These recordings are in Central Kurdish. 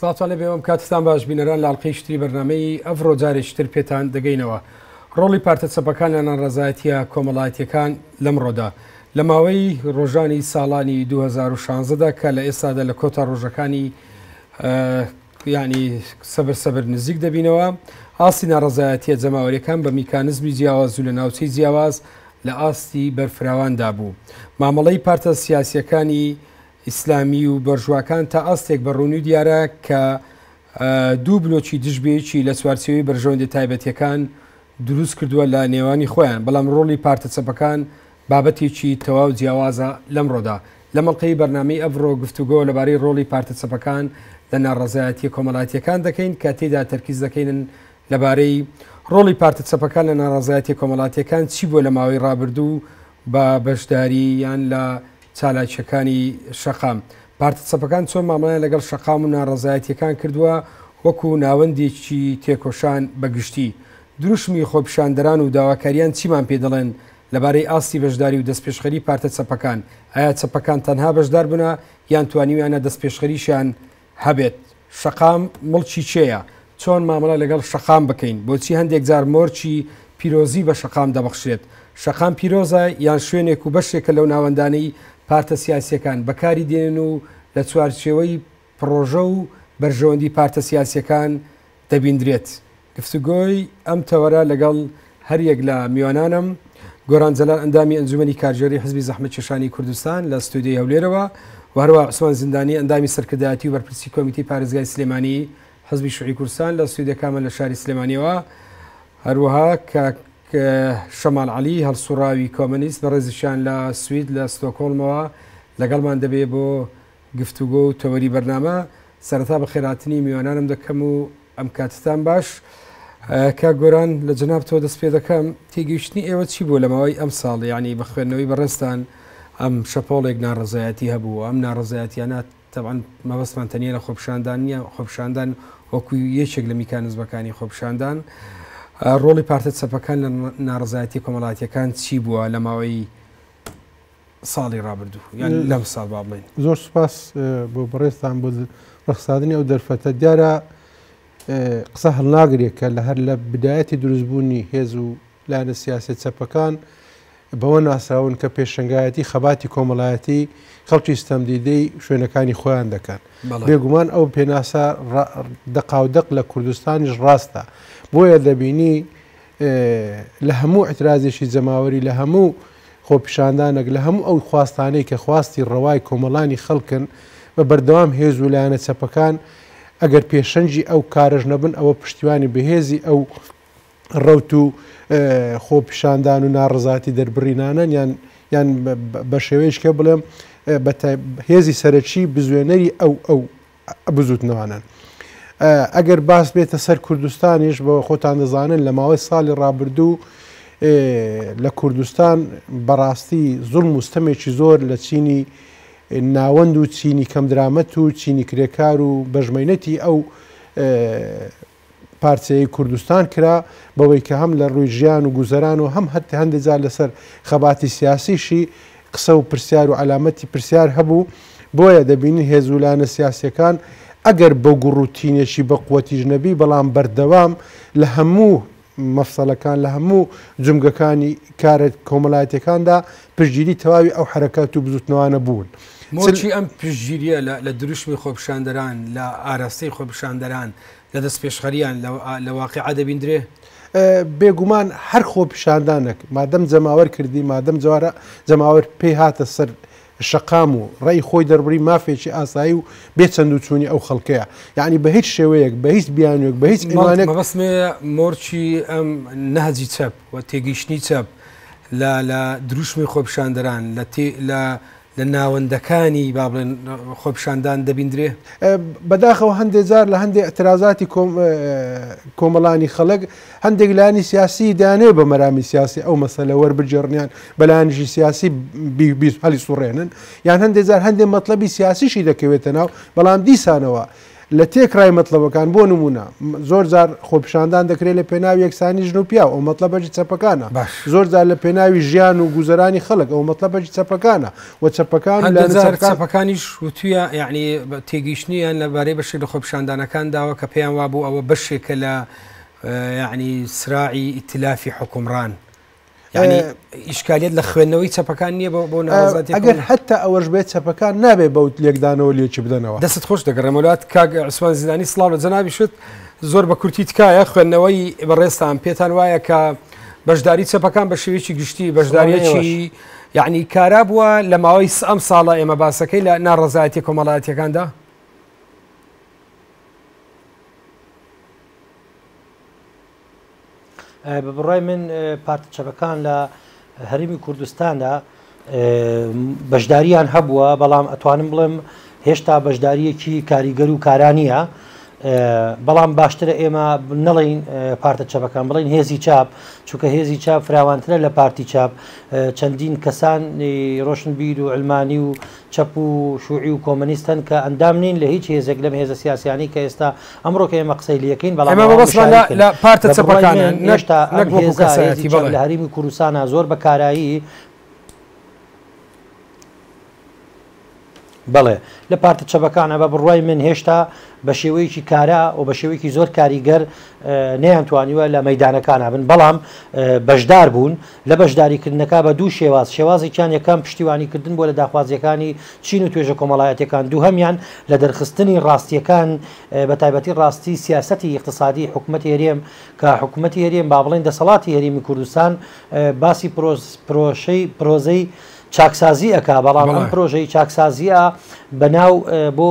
سڵاوتان لەبێ ئەم کاتستان باش بینەران لە ئەڵلقەی شتری بەرنمەی ئەڤڕۆ جارێکتر پێتان دەگەینەوە ڕۆڵی پارتە چەپەکان لە ناڕزایەتە کۆمەڵایەتەکان لەمڕۆدا لە ماوەی ڕۆژانی ساڵانی 2016دا کە لە ئێستادا لە کۆتا ڕۆژەکانی ینی سەبر سەبر نزیک دەبینەوە ئاستی ناڕزایەتە جەماوەریەکان بە میکانزمی جیاواز و لە ناوچەی جیاواز لە ئاستی بەرفراواندا بوو مامەڵەی پارتە سیاسیەکانی ئیسلامی و بەرژواکان تا ئاستێک بە ڕوونی و دیارە کە دوو بلۆکی دژ بە یەکی لە چوارچێوەی بەرژەوەندیە تایبەتیەکان دروست کردووە لە نێوانی خۆیان، بەڵام ڕۆڵی پارتە چەپەکان بابەتێکی تەواو جیاوازە لەمڕۆدا. لە مەڵقەی بەرنامەی ئەڤڕۆ گفتوگۆ لەبارەی ڕۆڵی پارتە چەپەکان لە ناڕەزایەتیە کۆمەڵاتیەکان دەکەین کە تێیدا تەرکیز دەکەینن لەبارەی ڕۆڵی پارتە چەپەکان لە ناڕەزایەتیە کۆمەڵاتیەکان چی بووە لە ماوەی ڕابردوو و بە بەشدارییان لە چالاکییەکانی شەقام، پارتە چەپەکان چۆن مامەڵەیان لەگەڵ شەقام و ناڕەزایەتییەکان کردووە وەکو ناوەندێکی تێکۆشان بە گشتی؟ دروشمی خۆپیشاندەران و داواکاریان چیمان پێ دەڵێن لەبارەی ئاستی بەشداری و دەستپێشخەری پارتە چەپەکان؟ ئایا چەپەکان تەنها بەشداربوونە یان توانیویانە دەستپێشخەریشیان هەبێت شەقام مڵکی کێیە؟ چۆن مامەڵە لەگەڵ شەقام بکەین؟ بۆچی هەندێک جار مۆرکی پیرۆزی بە شەقام دەبەخشرێت؟ شەقام پیرۆزە یان شوێنێک و بەشێکە لەو ناوەندانەی پارتە سیاسییەکان بەکاری دێنن و لە چوارچێوەی پڕۆژە و بەرژەوەندی پارتە سیاسییەکان دەبیندرێت. گفتوگۆی ئەم تەوەرە لەگەڵ هەریەک لە میوانانم، گۆران جەلال ئەندامی ئەنجومەنی کارگێڕی حزبی زەحمەتکێشانی کوردستان لە ستۆدیۆی هەولێرەوە و هەروەها عوسمان زیندانی ئەندامی سەرکردایەتی و بەرپرسی کۆمیتەی پارێزگای سلێمانی حزبی شوعی کوردستان لە ستۆدیۆکانمان لە شاری سلێمانیەوە هەروەها کاک شەمال علی هەڵسوڕاوی کۆمەنیست بەڕێزیشان لە سوید لە ستۆکۆڵمەوە لەگەڵمان دەبێ بۆ گفتوگۆ و تەوەری بەرنامە. سەرەتا بەخێرهاتنی میوانانم دەکەم و ئەم کاتتان باش. کاک گۆران لە جەنابتەوە دەست پێ دەکەم. تێگەیشتنی ئێوە چی بووە لە ماوەی ئەمساڵ یانی بە خوێندنەوەی بەڕێزتان ئەم شەپۆڵێک ناڕەزایەتی هەبوو و ئەم ناڕەزایەتیانە تەبعەن مەبەستمان تەنیا لە خۆپیشاندان نییە، خۆپیشاندان وەکو یەکێک لە میکانزمەکانی خۆپیشاندان. ڕۆڵی پارتە چەپەکان لە ناڕەزایەتیە کۆمەڵاتیەکان چی بووە لە ماوەی ساڵی ڕابردوو یان لەم ساڵ با بڵین زۆر سپاس بۆ بەڕێزتان بۆ ڕخسادنی ئەو دەرفەتە دیارە قسە هەڵناگرێت کە لە هەر لە بدایەتی دروستبوونی هێز و لایەنە سیاسی چەپەکان بەوە ناسراون کە پێشنگایەتی خەباتی کۆمەڵایەتی خەڵکی ستەمدیدەی شوێنەکانی خۆیان دەکەن بێگومان ئەو پێناسە دەقاودەق لە کوردستانیش ڕاستە بۆیە دەبینی لە هەموو ئیعترازێکی جەماوەری، لە هەموو خۆپیشاندانەک، لە هەموو ئەو خواستانەی کە خواستی ڕەوای کۆمەڵانی خەڵکن، بە بەردەوام هێز و لایەنە چەپەکان ئەگەر پێشەنگی ئەو کارەش نەبن، ئەوە پشتیوانی بەهێزی ئەو ڕەوت و خۆپیشاندان و ناڕەزایەتی دەربڕینانەن یان یان بەشێوەیەکی کە بڵێم هێزی سەرەکی بزوێنەری ئەو ئەو بزوتنەوانەن ئەگەر باس بێتە سەر کوردستانیش بە خۆتان دەزانن لە ماوەی ساڵی ڕابردوو لە کوردستان بەڕاستی زۆر مستەمێکی زۆر لە چینی ناوەند و چینی کەم درامەت و چینی کرێکار و بەژمەینەتی ئەو پارچەیەی کوردستان کرا، بەوەی کە هەم لە ڕووی ژیان و گوزەران و هەم هەت هەندێ جار لەسەر خەباتی سیاسیشی قسە و پرسیار و عەلامەتی پرسیار هەبوو، بۆیە دەبینین هێز و لایەنە سیاسییەکان ئەگەر بە گوڕ و تینێکی بە قوەتیش نەبی بەڵام بەردەوام لە هەموو مەفسەلەکان لە هەموو جومگەکانی کارە کۆمەلایەتیەکاندا پشتگیری تەواوی ئەو حەرەکات و بزوتنەوانە بوون. مۆرکی ئەم پشتگیریە لە لە دروشمی خۆپیشاندەران، لە ئاراستەی خۆپیشاندەران، لە دەستپێشخەرییان لە واقیع دەبیندرێ؟ بێ گومان هەر خۆپیشاندانەک مادەم جەماوەر کردی، مادەم جەماوەر پێی هاتە سەر شەقام و ڕێی خۆی دەربڕی، مافێکی ئاسایی و بێ چەندوچوونی ئەو خەڵکەیە. یانی بە هیچ شێوەیەک، بە هیچ بیانووێک، بە هیچ ئیمانێک. مەبەست مێ مۆرکی ئەم نەهجی چەپ و تێگەیشتنی چەپ لە درووشمی خۆپیشاندەران لە لە ناوەندەکانی با بڵێن خۆپیشاندان دەبیندرێ. بەداخەوە هەندێ جار لە هەندێ ئیعترازاتی کۆمەڵانی خەڵک هەندێک لایەنی سیاسیی دەیانەوێ بە مەرامی سیاسی ئەو مەسەلە وەربگێڕنیان بە لایەنیی سیاسی هەڵیسوڕێنن یان هەندێ جار هەندێ مەتڵەبی سیاسیشی دەکەوێتە ناو، بەڵام دیسانەوە لە تێکڕای مەتڵەبەکان، بۆ نموونە، زۆر جار خۆپیشاندان دەکرێت لە پێناو یەکسانی ژن و پیاو، ئەوە مەتڵەبەکی چەپەکانە، باش. زۆر جار لە پێناوی ژیان و گوزەرانی خەڵک، ئەوە مەتڵەبەکی چەپەکانە و چەپەکان و لایەنە چەپەکان. هەندێک جار چەپەکانیش وتوویە، یەعنی تێگەیشتنیان لە بارەی بەشێک لە خۆپیشاندانەکان داوە کە پێیان وابوو ئەوە بەشێکە لە یەعنی سراعی ئیتلافی حوکمڕان یعنی ئیشکالیت لە خوێندنەوەی چەپەکان نییە بۆ بۆ ناڕازاتی ئەگەر حتا ئەوەش بێت چەپەکان نابێ بەوت لێکدانەوە لێکی بدەنەوە دەست خۆش دەگەڕێمەلات کاگ عسوان زیدانی سلااو لە جەناوی شت زۆر بە کورتی تکایە خوێندنەوەی بەڕێستان پێتان وایە کە بەشداری چەپەکان بە شێوێکی گشتی بەشداریەکی یعنی کارا بووە لە ماوەی ئەم ساڵە ئێمە باسەکەی لە ناڕزایەتی کۆمەڵایەتەکاندا بە بڕای من پارتە چەپەکان لە هەرمی کوردستاندا بەشداریان هەبووە بەڵام ئەتوانم بڵێم هێشتا بەشداریەکی کاریگەر و کارانە بەڵام باشترە ئێمە نەڵین پارتە چەپەکان بڵین هێزی چاپ چونکە هێزی چاپ فراوانترە لە پارتی چاپ چەندین کەسان ڕۆشنبیر و ئەلمانی و چەپ و شوعی و کۆمەنیست هەن کە ئەندام نین لە هیچ هێزێک لەم هێزە سیاسیانەی کە ئێستا ئەمڕۆ کە ئێمە قسەی لەکەین بەڵام ئەوان مشارەکن بە بڕوای من هێشتا ئەم هێزە هێزی چەپ لە هەرێمی کوردستانا زۆر بە کارایی بەڵێ لە پارتە چەپەکانە بە بڕوای من هێشتا بە شێوەیەکی کارا و بە شێوەیەکی زۆر کاریگەر نەیانتوانیوە لە مەدانەکانە بن بەڵام بەشدار بوون لە بەشداریکردنەکە بە دوو شێواز، شێوازێکیان یەکەم پشتیوانیکردن بووە لە داخوازییەکانی چین و توێژە کۆمەڵایەتییەکان، دووهەمیان لە دەرخستنی ڕاستییەکان بە تایبەتی ڕاستی سیاسەتی ئیقتسادی حکومەتی هەرێم کە حکومەتی هەرێم با بڵێین دەسەڵاتی هەرێمی کوردستان باسی پرۆژەی پرۆزەی چاکسازی ئەکا بەڵام ئەم پرۆژەی چاکسازییە بەناو بۆ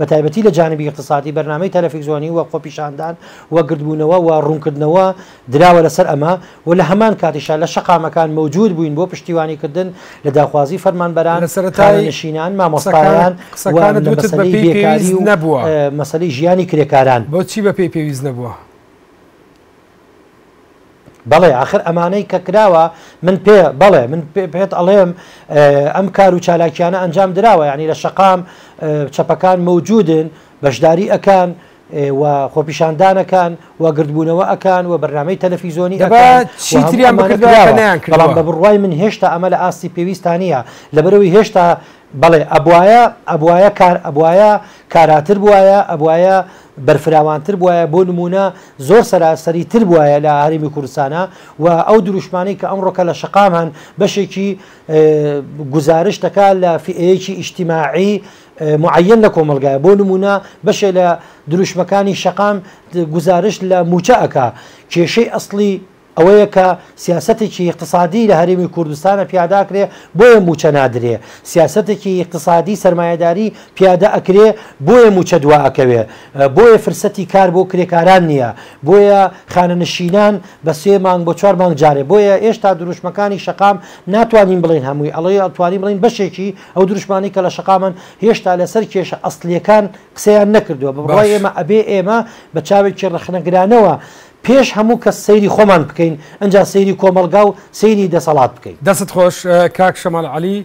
بە تایبەتی لە جانبی ئیقتسادی بەرنامەی تەلەفیزۆنی و خۆپیشاندان و گردبوونەوە و ڕوونکردنەوە دراوە لەسەر ئەمە و لە هەمان کاتیشا لە شەقامەکان مەوجود بووین بۆ پشتیوانیکردن لە داخوازی فەرمانبەران، خانەنشینان، مامۆستایان و لە مەسەلەی بێکاری و مەسەلەی ژیانی کرێکاران. بۆچی بەپێی پێویست نەبووە؟ بەڵێ ئاخر ئەمانەی کە کراوە من پێ بەڵێ من پێت ئەڵێم ئەم کار و چالاکیانە ئەنجام دراوە ینی لە شقام چەپەکان مەوجودن بەشداری ئەکان و خۆپیشاندانەکان و گردبوونەوە ئەکان و بەرنمەی تەلەفیزۆنی چیتریان بەڵام بە بڕوای من هێشتا ئەمە لە ئاستی پێویستانە لەبەرەوەی هێشتا بەڵێ ئەبوایە ئەبوایە کار ئەبوایە کاراتر بوایە ئەبوایە بەرفراوانتر بوایە بۆ نموونە زۆر سەراسەری تر بوایە لە هەرێمی کوردستانە و ئەو دروشمانەی کە ئەم ڕۆکە لە شقام هەن بەشێکی گزارش دەکا لە فئەیەکی ئیشتیماعی معەن لە کۆمەلگای بۆ نمونە بەشێ لە دروشمەکانی شەقام گزارش لە موچە ئەک کێشەی ئەسلی ئەوەیە کە سیاسەتێکی ئیقتسادی لە هەرێمی کوردستانە پیادا کرێ بۆیە مووچە نادرێ، سیاسەتێکی ئیقتسادی سەرمایەداری پیادە ئەکرێ بۆیە مووچە دوا ئەکەوێ، بۆیە فرسەتی کار بۆ کرێکاران نییە، بۆیە خانەنشینان بە سێ مانگ بۆ چوار مانگ جارێ، بۆیە ئێشتا دروشمەکانی شەقام ناتوانین بڵێین هەمووی ئەڵێتوانین بڵێین بەشێکی ئەو دروشمانەی کە لە شەقامن هێشتا لەسەر کێشە ئەسڵیەکان قسەیان نەکردووە بە بڕوای ئێمە ئەبێ ئێمە بە چاوێکی ڕەخنەگرانەوە پێش هەموو کەس سەیری خۆمان بکەین ئەنجا سەیری کۆمەڵگا و سەیری دەسەڵات بکەین. دەستت خۆش کاک شەماڵ عەلی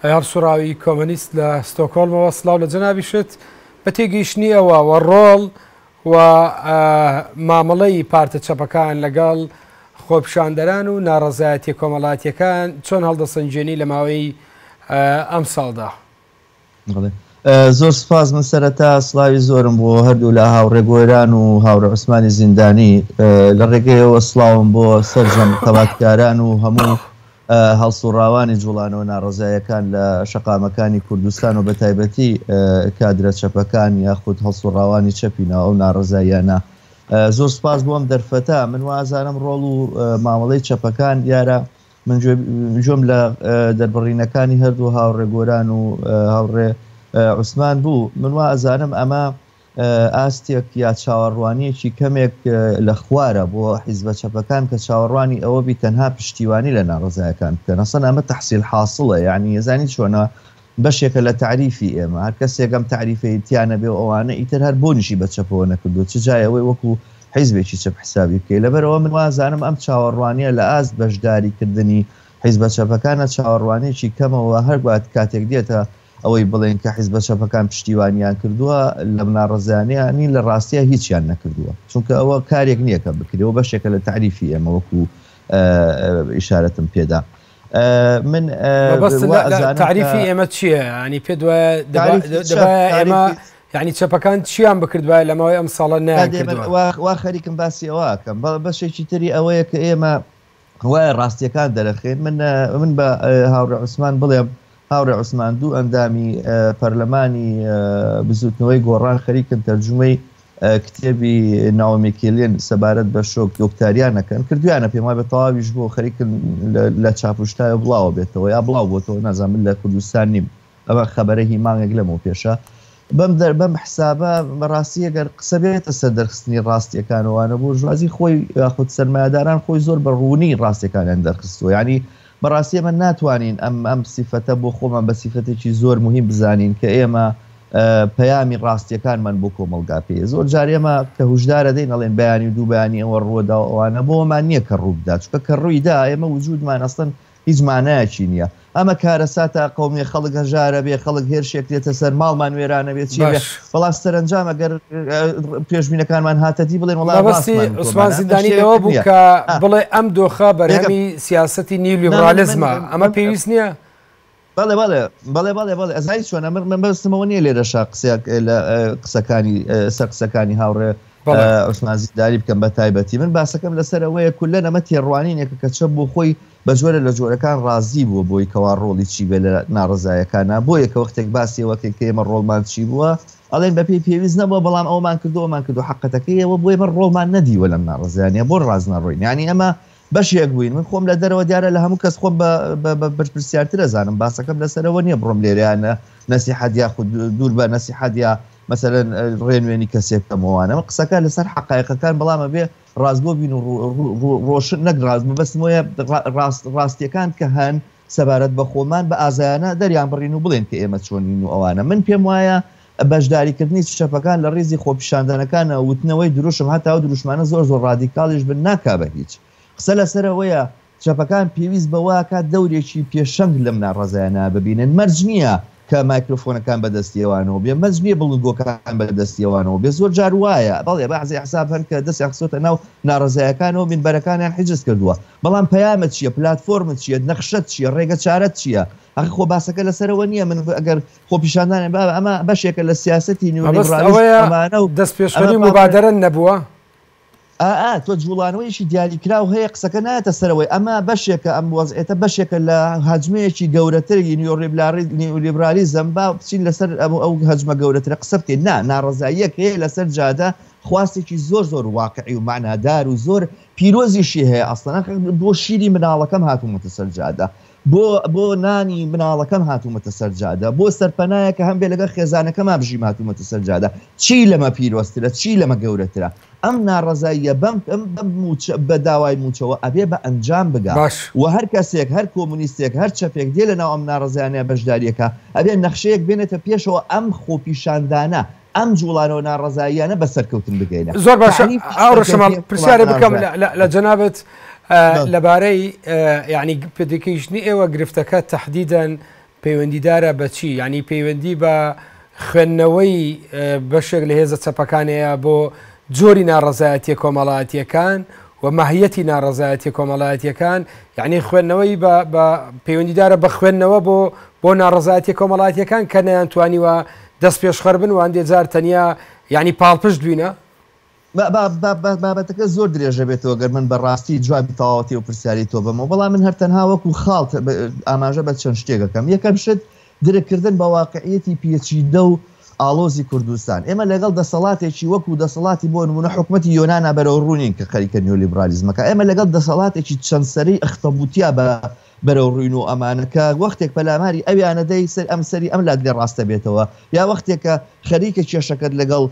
ئەیار سوڕاوی کۆمەنیست لە ستۆکۆڵمەوە سڵاو لە جەنابیشت بە تێگەیشتنی ئەوە وە ڕۆڵ و مامەڵەی پارتە چەپەکان لەگەڵ خۆپیشاندەران و ناڕەزایەتیە کۆمەڵاتیەکان چۆن هەڵدەسەنگێنی لە ماوەی ئەمساڵدا؟ زۆر سپاس من سەرەتا سلاوی زۆرم بۆ هەردوو لە هاوڕێ گۆران و هاوڕە عوسمانی زیندانی لە ڕێگەیەوە سلااوم بۆ سەرجەم تەباتکاران و هەموو هەڵسوڕاوانی جوڵانەوە ناڕزایەکان لە شقامەکانی کوردستان و بە تایبەتی کادرە چەپەکان یاخود هەڵسوڕاوانی چەپی ناو ئەو ناڕزاییانە زۆر سپاس بۆم دەرفەتە من وازانم ڕۆڵ و مامەڵەی چەپەکان دیارە من جۆم لە دەربڕینەکانی هەردوو هاوڕێ گۆران و هاوڕێ عوسمان بوو من وا ئەزانم ئەمە ئاستێک یا چاوەڕوانیەکی کەمێک لە خوارە بۆ حیزبە چەپەکان کە چاوەڕوانی ئەوە بی تەنها پشتیوانی لە ناڕزایەکان بکەن ئەسەن ئەمە تحصیل حاصلە یعنی یزانی چۆنە بەشێکە لە تەعریفی ئێمە. هەر کەسێک ئەم تەعریفەی تیا نەبێ و ئەوانە، ئیتر هەر بۆنیشی بە چەپەوە نەکردووە، چ جای ئەوەی وەکو حیزبێکی چەپ حیسابی بکەی. لەبەرئەوە من وازانم ئەم چاوەڕوانییە لە ئاست بەشداری کردنی حیزبە چەپەکانە، چاوەڕوانییەکی کەمە و هەر کاتێک دێتە ئەوەی بڵێین کە حیزبە چەپەکان پشتیوانییان کردووە لەم ناڕەزایانەیە، نین، لە ڕاستیا هیچیان نەکردووە. چونکە ئەوە کارێک نییە کە بکرێ و بەشێکە لە تەعریفی ئێمە وەکو ئیشارەتم پێدا. من تعریفی ئێمە چییە ینی پێ ئێمە ینی چەپەکان چیان بکردوە لەماوەی ئەم ساڵە نوا خەریکم باسی ئەوکەم بەڵ بەشێکی تری ئەوەیە کە ئێمە وایە ڕاستیەکان دەرەخێن من من بە هاوڕێ عوسمان بڵێم هاوڕێ عوسمان دوو ئەندامی پەرلەمانی بزوتنەوەی گۆڕان خەریکن تەرجمەی کتێبی ناومێکیلێن سەبارەت بە شۆک دۆکتاریانەکەن کردویانە پێم وابێت تەواویش بۆ خەریکن لە چاپشتای بڵاوە بێتەوە یا بڵاو بۆتەوە نازان من لە کوردستان نیم ئەمە خەبەرە هی مانگێک لەمەوە پێشە بەم دەر بەم حسابە بەڕاستی ئەگەر قسە بێتە سەر دەرخستنی ڕاستیەکانەوەوانە بۆ ژوازی خۆی یاخود سەرمایهداران خۆی زۆر بە ڕوونی ڕاستەکانیان دەرخستوە ینی بەڕاستی ئێمە ناتوانین ئەم ئەم سیفەتە بۆ خۆمان بە سیفەتێکی زۆر موهیم بزانین کە ئێمە پەیامی ڕاستیەکانمان بۆ کۆمەڵگا پێ زۆر جار ئێمە کە هوشدارە دەین ئەڵێن بەیانی و دوو بەیانی ئەوە ڕووەدا و ئەوانە بۆمان نییە کە ڕووبدا چکە کە ڕوویدا ئێمە وجودمان ئەستن هیچ مانایەکی نییە ئەمە کارە ساتە قومیە خەڵک هەژارە بێ خەڵک هێرشێک لێتە سەر ماڵمان وێرانە بێت چی بەڵا سەرنجام ئەگەر پێشبینەکانمان هاتەدی بڵێن وڵاوەستیسمان زیندانیەوە بوو کە بڵێ ئەم دۆخە بەرەمی سیاستی نیو لیبرالیزمە ئەمە پێویست نییە بەڵێ بەڵێ بەڵێ بەڵێ بەڵێ ئەزای چۆن ئەمر من بەستمەوە نیە لێرەشا قسەک لە قسەکانی سەر قسەکانی هاوڕێ عوسمان زیداری بکەم بە تایبەتی من باسەکەم لەسەرەوەیە کولە نەمە تێڕوانینێکە کە چە بۆ خۆی بە جۆرە لە جۆرەکان ڕازی بووە بۆی کەوا ڕۆڵی چی بێت لە ناڕەزایەکانا، بۆیە کە وەختێک باسی ئەوە کەین کە ئێمە ڕۆڵمان چی بووە ئەڵێن بە پێی پێویست نەبووە بەڵام ئەوەمان کردووە ئەومان کردووە حەقەتەکەی ئەوە بووە ئێمە ڕۆڵمان نەدیوە لەم ناڕەزایانە بۆ ڕاست نەڕۆین یانی ئەمە بەشێک بووین من خۆم لە دەرەوە دیارە لە هەموو کەس خۆم بە بەرپرسیارتر ئەزانم باسەکەم لەسەرەوە نییە بڕۆم لێرەیانە نەسیحەت یا خود دوور بە نەسیحەت یا مەسەرەن ڕێنوێنی کەسێک کەمەوانەوە قسەکە لەسەر حقایقەکان بەڵامە بێ ڕاستگۆ بین و ڕۆشن نەک ڕاست مەبەستم وەیە ڕاست ڕاستیەکان کە هەن سەبارەت بە خۆمان بە ئازایانە دەریان بڕین و بڵێن کە ئێمە چۆنین و ئەوانە من پێم وایە بەشداریکردنی سشەفەکان لە ڕیزی خۆپیشاندانەکانە وتنەوەی دروشم هەتاو دروشمانە زۆر زۆر ڕادیکاڵیش بن ناکا بە هیچ قسە لەسەرەوەیە چەپەکان پێویست بەوەکات دەورێکی پێشەنگ لەم ناڕەزایانە ببینن، مەرج نیە کە مایکرۆفۆنەکان بەدەستی ئەوانەوە بێ، مەرج نیە بڵندگۆکان بەدەستی ئەوانەوە بێ، زۆر جار وایە بەڵێ بەعزێ ئەحزاب هەن کە دەستیان خستۆتە ناو ناڕەزایەکانەوە مینبەرەکانیان حیجز کردوە، بەڵام پەیامت چیە، پلاتفۆرمت چیە، نەخشەت چیە، ڕێگە چارەت چیە، ئەخ خۆ باسەکە لەسەرەوە نیە من ئەگەر خۆپیشاندانێ بابە ئەمە بەشێکە لە سیاسەتی نیولیبڕالیزم ئەمانەو ئەمە پاکە. ئائا تۆ جوڵانەوەیەکی دیاریکراو هەیە قسەکە نایەتە سەرەوەی ئەمە بەشێکە ئەم وەزعیەتە بەشێکە لە هەجمەیەکی گەورەتر ی نیولیبرالیزم با بچین لەسەر ئەو هەجمە گەورەترە قسە بکەین نا ناڕەزاییەک هەیە لەسەر جادە خواستێکی زۆر زۆر واقعی و مەعنادار و زۆر پیرۆزیشی هەیە ئەسڵەن بۆ شیری مناڵەکەم هاتوومەتە سەر جادە بۆ بۆ نانی مناڵەکەم هاتوومەتە سەر جادە، بۆ سەرپەنایەک کە هەمبێ لەگەڵ خێزانەکەما بژیم هاتوومەتە سەر جادە، چی لەمە پیرۆزترە، چی لەمە گەورەترە؟ ئەم ناڕەزاییە بەم بەم مووچە بە داوای مووچەوە ئەبێ بە ئەنجام بگا باش. و هەر کەسێک، هەر کۆمونیستێک، هەر چەپێک دێ لەناو ئەم ناڕەزایانە بەشدارییەکا ئەبێ نەخشەیەک بێنێتە پێشەوە ئەم خۆپیشاندانە ئەم جوڵانەوە ناڕەزاییانە بە سەرکەوتن بگەینە زۆر باش ئاڕشەمە پرسیارە بکەم لە جەنابەت لەبارەی یعنی پێدەکەیشتنی ئێوە گرفتەکە تهدیدەن پەیوەندیدارە بەچی ینی پەیوەندی بە خوێندنەوەی بەشێک لە هێزە چەپەکانەیە بۆ جۆری ناڕەزایەتە کۆمەڵاتیەکان و ماهیەتی ناڕەزایەتی کۆمەڵایەتەکان یعنی خوێندنەوەی پەیوەندیدارە بە خوێندنەوە بۆ بۆ ناڕەزایەتی کۆمەڵاتیەکان کە نەیان توانیوە دەست پێشخەربن واندێ جار تەنیا یانی پاڵپشت بوینە. بابەتەکە زۆر درێژە بێتەوە گەر من بە ڕاستی جوابی تەواوەتی ئەو پرسیاری تۆ بەمەوە بەڵام من هەر تەنها وەکو خاڵ ئاماژە بە چەند شتێک دەکەم یەکەم شت درک کردن بە واقعیەتی پێچیدە و ئاڵۆزی کوردستان ئێمە لەگەڵ دەسەڵاتێکی وەکو دەسەڵاتی بۆ نمونە حکومەتی یۆنانا بەرەو ڕوونین کە خەریکە نیۆلیبرالیزمەکە ئێمە لەگەڵ دەسەڵاتێکی چەند سەری ئەختەبوتیا بە بەرەو ڕووی نۆ ئەمانە کە وەختێک پەلاماری ئەویانە دەی سەر ئەم سەری ئەم لادرێ ڕاست دەبێتەوە یا وەختێک کە خەریکە کێشەکەت لەگەڵ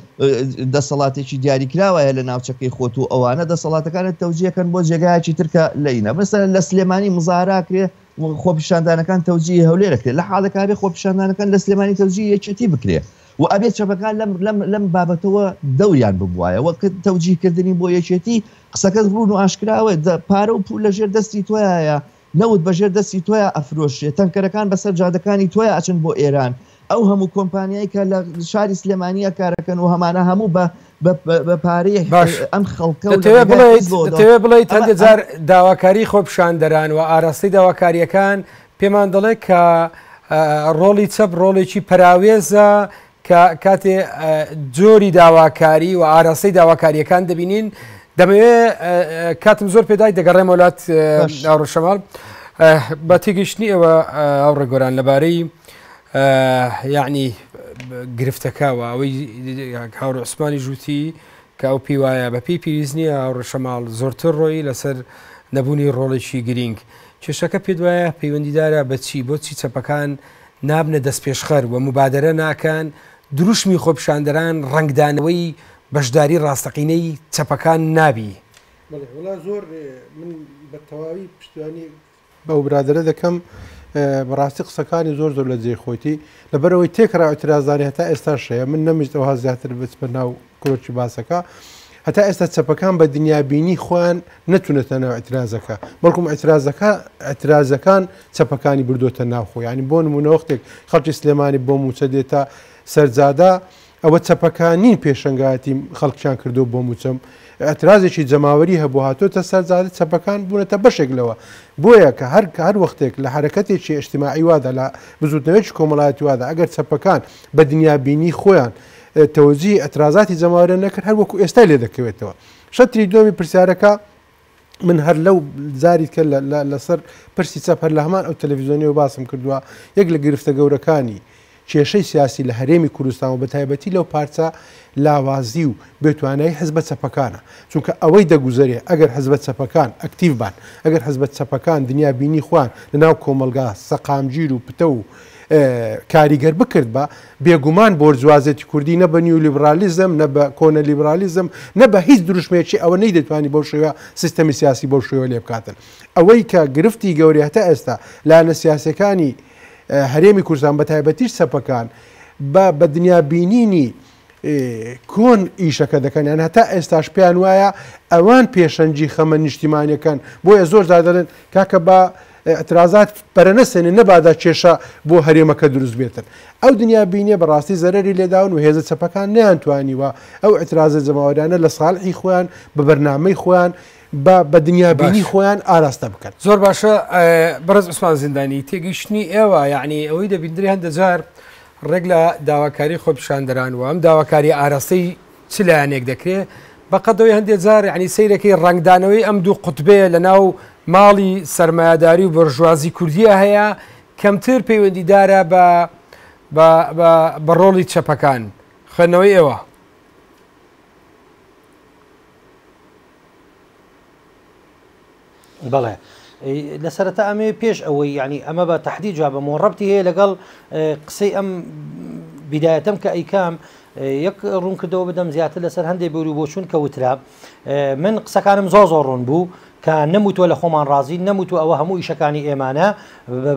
دەسەڵاتێکی دیاری کراوایە لە ناوچەکەی خۆت و ئەوانە دەسەڵاتەکانت تەوجیەکەن بۆ جێگایەکی ترکە لەینە بەسە لە سلێمانی مزاراکرێ خۆپیشاندانەکان تەوجی هەولێرەکرێت لە حاڵەکاری خۆپیشاندانەکان لە سلێمانی تەوجی یەکێتی بکرێ و ئەبێ چەپەکان لەم لەم لەم بابەتەوە دەوریان ببوایە وە کە تەوجیه کردنی بۆ یەکێتی قسەکەت ڕوون و ئاشکراوە دە پارە و پوول لە ژێر دەستی تۆیایە نەوت بە ژێر دەستی تۆیا ئەفرۆشرێ تەنکەرەکان بەسەر جادەکانی تۆیا ئەچن بۆ ئێران ئەو هەموو کۆمپانیای کە لە شاری سلێمانیە کارەکەن و هەمانە هەموو بە بە بە پارەی باش ئەم خەڵکە و دەتەوێ بڵێیت دەتەوێ بڵێیت هەندێ جار داواکاری خۆپیشاندەران و ئاراستەی داواکاریەکان پێمان دەڵێت کە ڕۆڵی چەپ ڕۆڵێکی پەراوێزە کە کاتێ جۆری داواکاری و ئاراستەی داواکاریەکان دەبینین دەمەوێ کاتم زۆر پێدای دەگەڕێ مۆلات ڕشەمال بە تێگەشتنی ئەوە ئەو ڕێگۆران لەبارەی یعنی گرفتەکەەوە ئەوەی هاور عوسمانی ژووتی کە ئەو پێی وایە بە پێی پێویست نییە ئەو ڕشەماڵ زۆرتر ڕۆی لەسەر نەبوونی ڕۆڵێکی گرینگ کێشەکە پێت وایە پەیوەندیدارە بە چی؟ بۆچی چەپەکان نابنە دەستپێشخەر و موبادەرە ناکەن؟ دروشمی خۆپیشاندەران ڕەنگدانەوەی بەشداری ڕاستەقینەی چەپەکان نابی؟ بەڵێ وەڵا زۆر من بە تەواوی پشتیوانی بەو برادەرە دەکەم بەڕاستی قسەکانی زۆر زۆر لە جێی خۆیتی لەبەرەوەی تێکرا ئەترازانی هەتا ئێستاش هەیە من نەمویست ئەوها زیاتر بچمە ناو کرۆکی باسەکە هەتا ئێستا چەپەکان بە دنیابینی خۆیان نەتونەتە ناو ئەترازەکە بەڵکم ئەترازەکە ئەترازەکان چەپەکانی بردوتە ناوخۆ ینی بۆ نمونەوەختێک خەڵکی سلێمانی بۆ موچە دێتە سەرجادا ئەوە چەپەکانین پێشنگاتی خەڵکیان کردو بۆ موچەم ئەترازێکی جەماوەری هەبوو هاتۆتە سەرجادە چەپەکان بوونەتە بەشێک لەوە بۆیە کە هەر کە هەر وەختێک لە حرەکەتێکی ئەشتیماعی وادا لە بزوتنەوەیکی کۆمەڵایەتی وادا ئەگەر چەپەکان بە دنیابینی خۆیان تەوجیهی ئەترازاتی جەماوەرێ نەکرد هەر وەکو ئێستا لێ دەکەوێتەوە شەتری دووەمی پرسیارەکە من هەر لەو زاری کە لەسەر پرسی چەپ هەر لە هەمان ئەو تەلەڤزیۆنیەوە باسم کردووە یەک لە گرفتە گەورەکانی کێشەی سیاسی لە هەرێمی کوردستان و بە تایبەتی لەو پارچە لاوازی و بێتوانایی حزبە چەپەکانە چونکە ئەوەی دەگوزارێ ئەگەر حزبە چەپەکان ئەکتیو بان ئەگەر حزبە چەپەکان دنیا بینی خوان لە ناو کۆمەلگا سەقامگیر و پتە و کاریگەر بکرد بە بێگومان بۆرجوازێتی کوردی نە بە نیولیبرالیزم، نە بە کۆنە لیبرالیزم، نە بە هیچ دروشمێکی ئەوە نەیدەتوانی بەو شێوە سیستەمی سیاسی بەو شێوە لێ بکاتن. ئەوەی کە گرفتی گەورەی هەتا ئێستا لایەنە سیاسیەکانی هەرێمی کوردستان بە تایبەتیش چەپەکان بە بە دنیا بینینی کۆن ئیشەکە دەکەن یان هەتا ئێستاش پێیان وایە ئەوان پێشەنجی خەمە نیشتیمانەکەن بۆیە زۆر زادەن کاکە بە ئیعترازات پەرەنەسێنێ نەبادا کێشە بۆ هەرێمەکە دروست بێتن. ئەو دنیا بینیە بەڕاستی زەرەری لێداون و هێزە چەپەکان نەیانتوانیوە ئەو ئیعترازە جەماوەریانە لە ساڵحی خۆیان بە بەرنامەی خۆیان بە بە دنیا بینی خۆیان ئاراستە بکەن. زۆر باشە بەڕێز عوسمان زیندانی تێگەیشتنی ئێوە یعنی ئەوەی دەبیندرێ هەندە جار ڕێک لە داواکاری خۆپیشاندەران و ئەم داواکاری ئاراستەی چ لایەنێک دەکرێ بەقەدەوەی هەندێ جار یعنی سەیرەکەی ڕەنگدانەوەی ئەم دوو قوتبەیە لە ناو ماڵی سەرمایەداری و بەرژوازی کوردیە هەیە کەمتر پەیوەندیدارە بە بە ڕۆڵی چەپەکان خوێندنەوەی ئێوە بەڵێ لە سەرەتا ئەمێ پێش ئەوەی یعنی ئەمە بە تهدی جوابم و ڕبتی هەیە لەگەڵ قسەی ئەم بدایەتم کە ئەیکام یەک ڕوون کردەوە بدەم زیاتر لەسەر هەندێک بەوری بۆ چون کە وترا من قسەکانم زۆ زۆ ڕوون بوو کە نەموتوە لە خۆمان ڕازی نەموتو ئەوە هەموو ئیشەکانی ئێمانە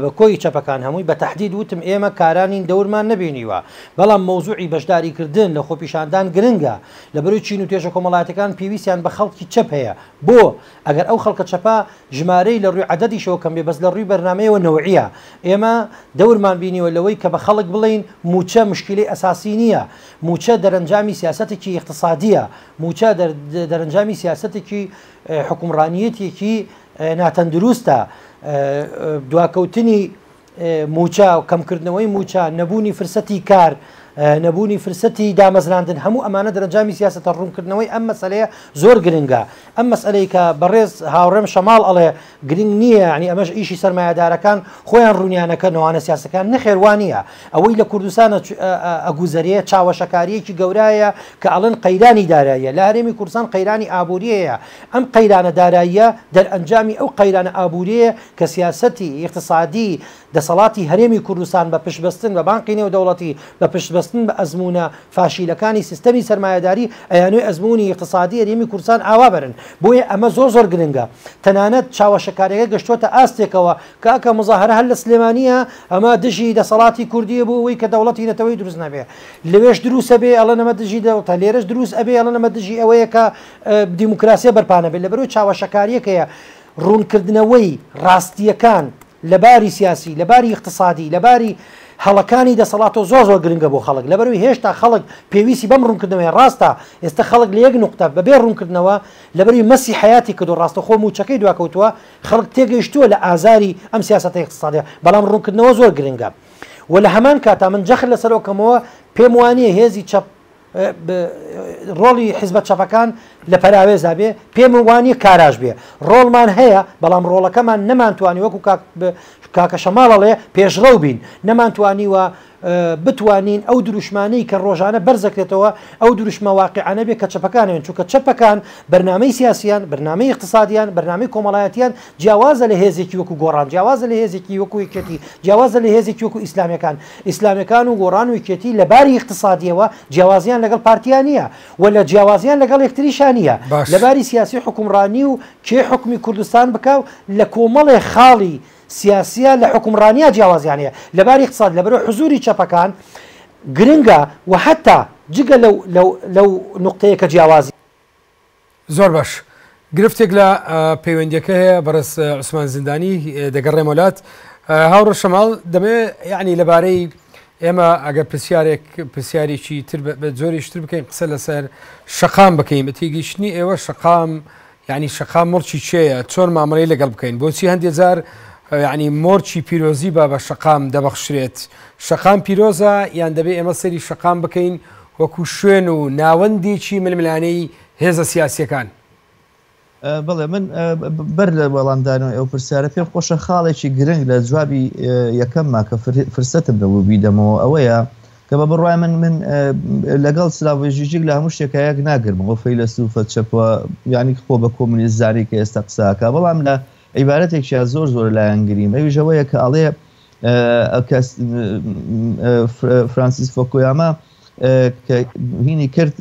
بە کۆی چەپەکان هەمووی بە تهدید وتم ئێمە کارانین دەورمان نبینیوە بەڵام مەوزوعی بەشداریکردن لە خۆپیشاندان گرنگە لە بەروی چین و توێژە کۆمەڵاتەکان پێویستیان بە خەڵکی چەپ هەیە بۆ؟ ئەگەر ئەو خەڵکە چەپە ژمارەی لە ڕووی عەدەدیشەوە کەم بێ بەس لە ڕووی بەرنامەیەوە نەوعیە. ئێمە دەورمان بینیوە لەوەی کە بە خەڵک بڵێین مووچە مشکیلەی ئەساسی نییە. مووچە دەرەنجامی سیاسەتێکی ئیقتسادییە. مووچە دەرەنجامی سیاسەتێکی حوکمڕانییەتێکی ناتەندرووستە. دواکەوتنی مووچە، کەمکردنەوەی مووچە، نەبوونی فرسەتی کار، نەبوونی فرسەتی دامەزراندن، هەموو ئەمانە دەرەنجامی سیاسەتە، ڕوونکردنەوەی ئەم مەسەلەیە زۆر گرنگە. ئەم مەسەلەی کە بەڕێز هاوڕێم شەماڵ ئەڵێ گرنگ نییە، یانی ئەمەش ئیشی سەرمایەدارەکان خۆیان ڕوونیانەکەن ئەوانە سیاسەتکارن، نەخێر وا نییە. ئەوەی لە کوردستان ئەگوزەرێ چاوەشەکارییەکی گەورایە کە ئەڵێن قەیرانی داراییە، لە هەرێمی کوردستان قەیرانی ئابوورییە. ئەم قەیرانە داراییە دەرەنجامی ئەو قەیرانە ئابوورییە کە سیاسەتی ئیقتسادیی دەسەڵاتی هەرێمی کوردستان بە پشتبەستن بە بانقی نێودەوڵەتی، بە پشتبەستن بە ئەزموونە فاشیلەکانی سیستەمی سەرمایەداری، ئەیانوێ ئەزموونی ئیقتسادیی هەرێمی کوردستان ئاوا بەرن. بۆیە ئەمە زۆر زۆر گرنگە. تەنانەت چاوەشەکارییەکە گەشتووەتە ئاستێکەوە کە ئەکا موزاهەرە هەر لە سلێمانییە ئەمە دژی دەسەڵاتی کوردییە بۆ ئەوەی کە دەوڵەتی نەتەوەیی دروست نەبێ. لەوێش دروست ئەبێ ئەڵێن ئەمە دژی دەوڵەتە، لێرەش دروست ئەبێ ئەڵێن ئەمە دژی ئەوەیە کە دیموکراسییە بەرپا نەبێ. لەبەر ئەوەی چاوەشەکارییەکەیە. ڕوونکردنەوەی ڕاستییەکان لە باری سیاسی، لە باری ئیقتسادی، لە باری هەڵەکانی دەسەڵاتەوە زۆر زۆر گرنگە بۆ خەڵک، لەبەرئەوەی هێشتا خەڵک پێویستی بەم ڕوونکردنەوەیە، ڕاستە ئێستا خەڵک لە یەک نوقتە بەبێ ڕوونکردنەوە لەبەروی مەسی حەیاتی کردووە، ڕاستەوخۆ مووچەکەی دواکەوتووە، خەڵک تێگەیشتووە لە ئازاری ئەم سیاسەتە ئیقتسادییە، بەڵام ڕوونکردنەوە زۆر گرنگە و لە هەمان کاتا من جەخت لەسەرەوەکەمەوە پێموانییە هێزی چەپ ڕۆڵی حزبە چەپەکان لە پەراوێزا بێ پێم وانیە کاراش بێ ڕۆڵمان هەیە بەڵام ڕۆڵەکەمان نەمانتوانی وەکو کاکە شەماڵەڵێ پێشڕەو بین نەمانتوانیوە بتوانین ئەو دروشمانەی کە ڕۆژانە بەرزەکرێتەوە ئەو دروشمە واقعانە بێ کە چەپەکانێن چونکە چەپەکان بەرنمەی سیاسیان بەرنمەی اقتصادیان بەرنامی کۆمەڵایەتیان جیاوازە لە هێزێکی وەکو گۆڕان جیاوازە لە هێزێکی وەکو یەکێتی جیاوازە لە هێزێکی وەکو ئیسلامیەکان ئیسلامیەکان و گۆڕان و یەکێتی لە باری ئیقتسادیەوە جیاوازیان لەگەڵ پارتیا نیە و لە جیاوازیان لەگەڵ یەکتریشا نیە لە باش. باری سیاسی و حوکمڕانی و کێ حوکمی کوردستان بکا و لە کۆمەڵێ خاڵی سیاسیا لە حوکمڕانیا جیاوازیان هەیە لە باری ئیقتساد لەبەرئەوە حزوری چەپەکان گرنگە و هەتا جگە لەو لەو لەو نوقتەیە کە جیاوازی زۆر باش گرفتێک لە پەیوەندیەکە هەیە بەڕێز عوسمان زیندانی دەگەڕێمە لات هاوڕە شەماڵ دەبێ یعنی لەبارەی ئێمە ئەگەر پرسیارێک پرسیارێکی تر بە جۆریشتر بکەین قسە لەسەر شقام بکەین بەتێگەیشتنی ئێوە شقام یعنی شقام مڕچی چێە چۆن مامەڵی لەگەڵ بکەین بۆچی هەندێک جار یعنی مۆرچی پیرۆزی با بە شقام دەبەخشرێت شقام پیرۆزە یان دەبێ ئێمە سەری شقام بکەین وەکو شوێن و ناوەندێکی ململانێی هێزە سیاسییەکان. بەڵێ من بەر لە وەڵامدانەوەی ئەو پرسیارە پێم خۆشە خاڵێکی گرنگ لە جوابی یەکەمما کە فرسەتم نەبوو بیدەمەوە ئەوەیە کە بە بڕوای من من لەگەڵ سلاڤۆی ژیژیک لە هەموو شتێکە یەک ناگرم بۆ فەیلەسوفە چەپوە یانی خۆ بە کۆمونیست زانی کە ئێستا قساکە بەڵام لە عیبارەتێکیان زۆر زۆر لایەنگریم ئەویش ئەوەیە کە ئەڵێ فرانسیس فۆکۆیاما کە هینی کرد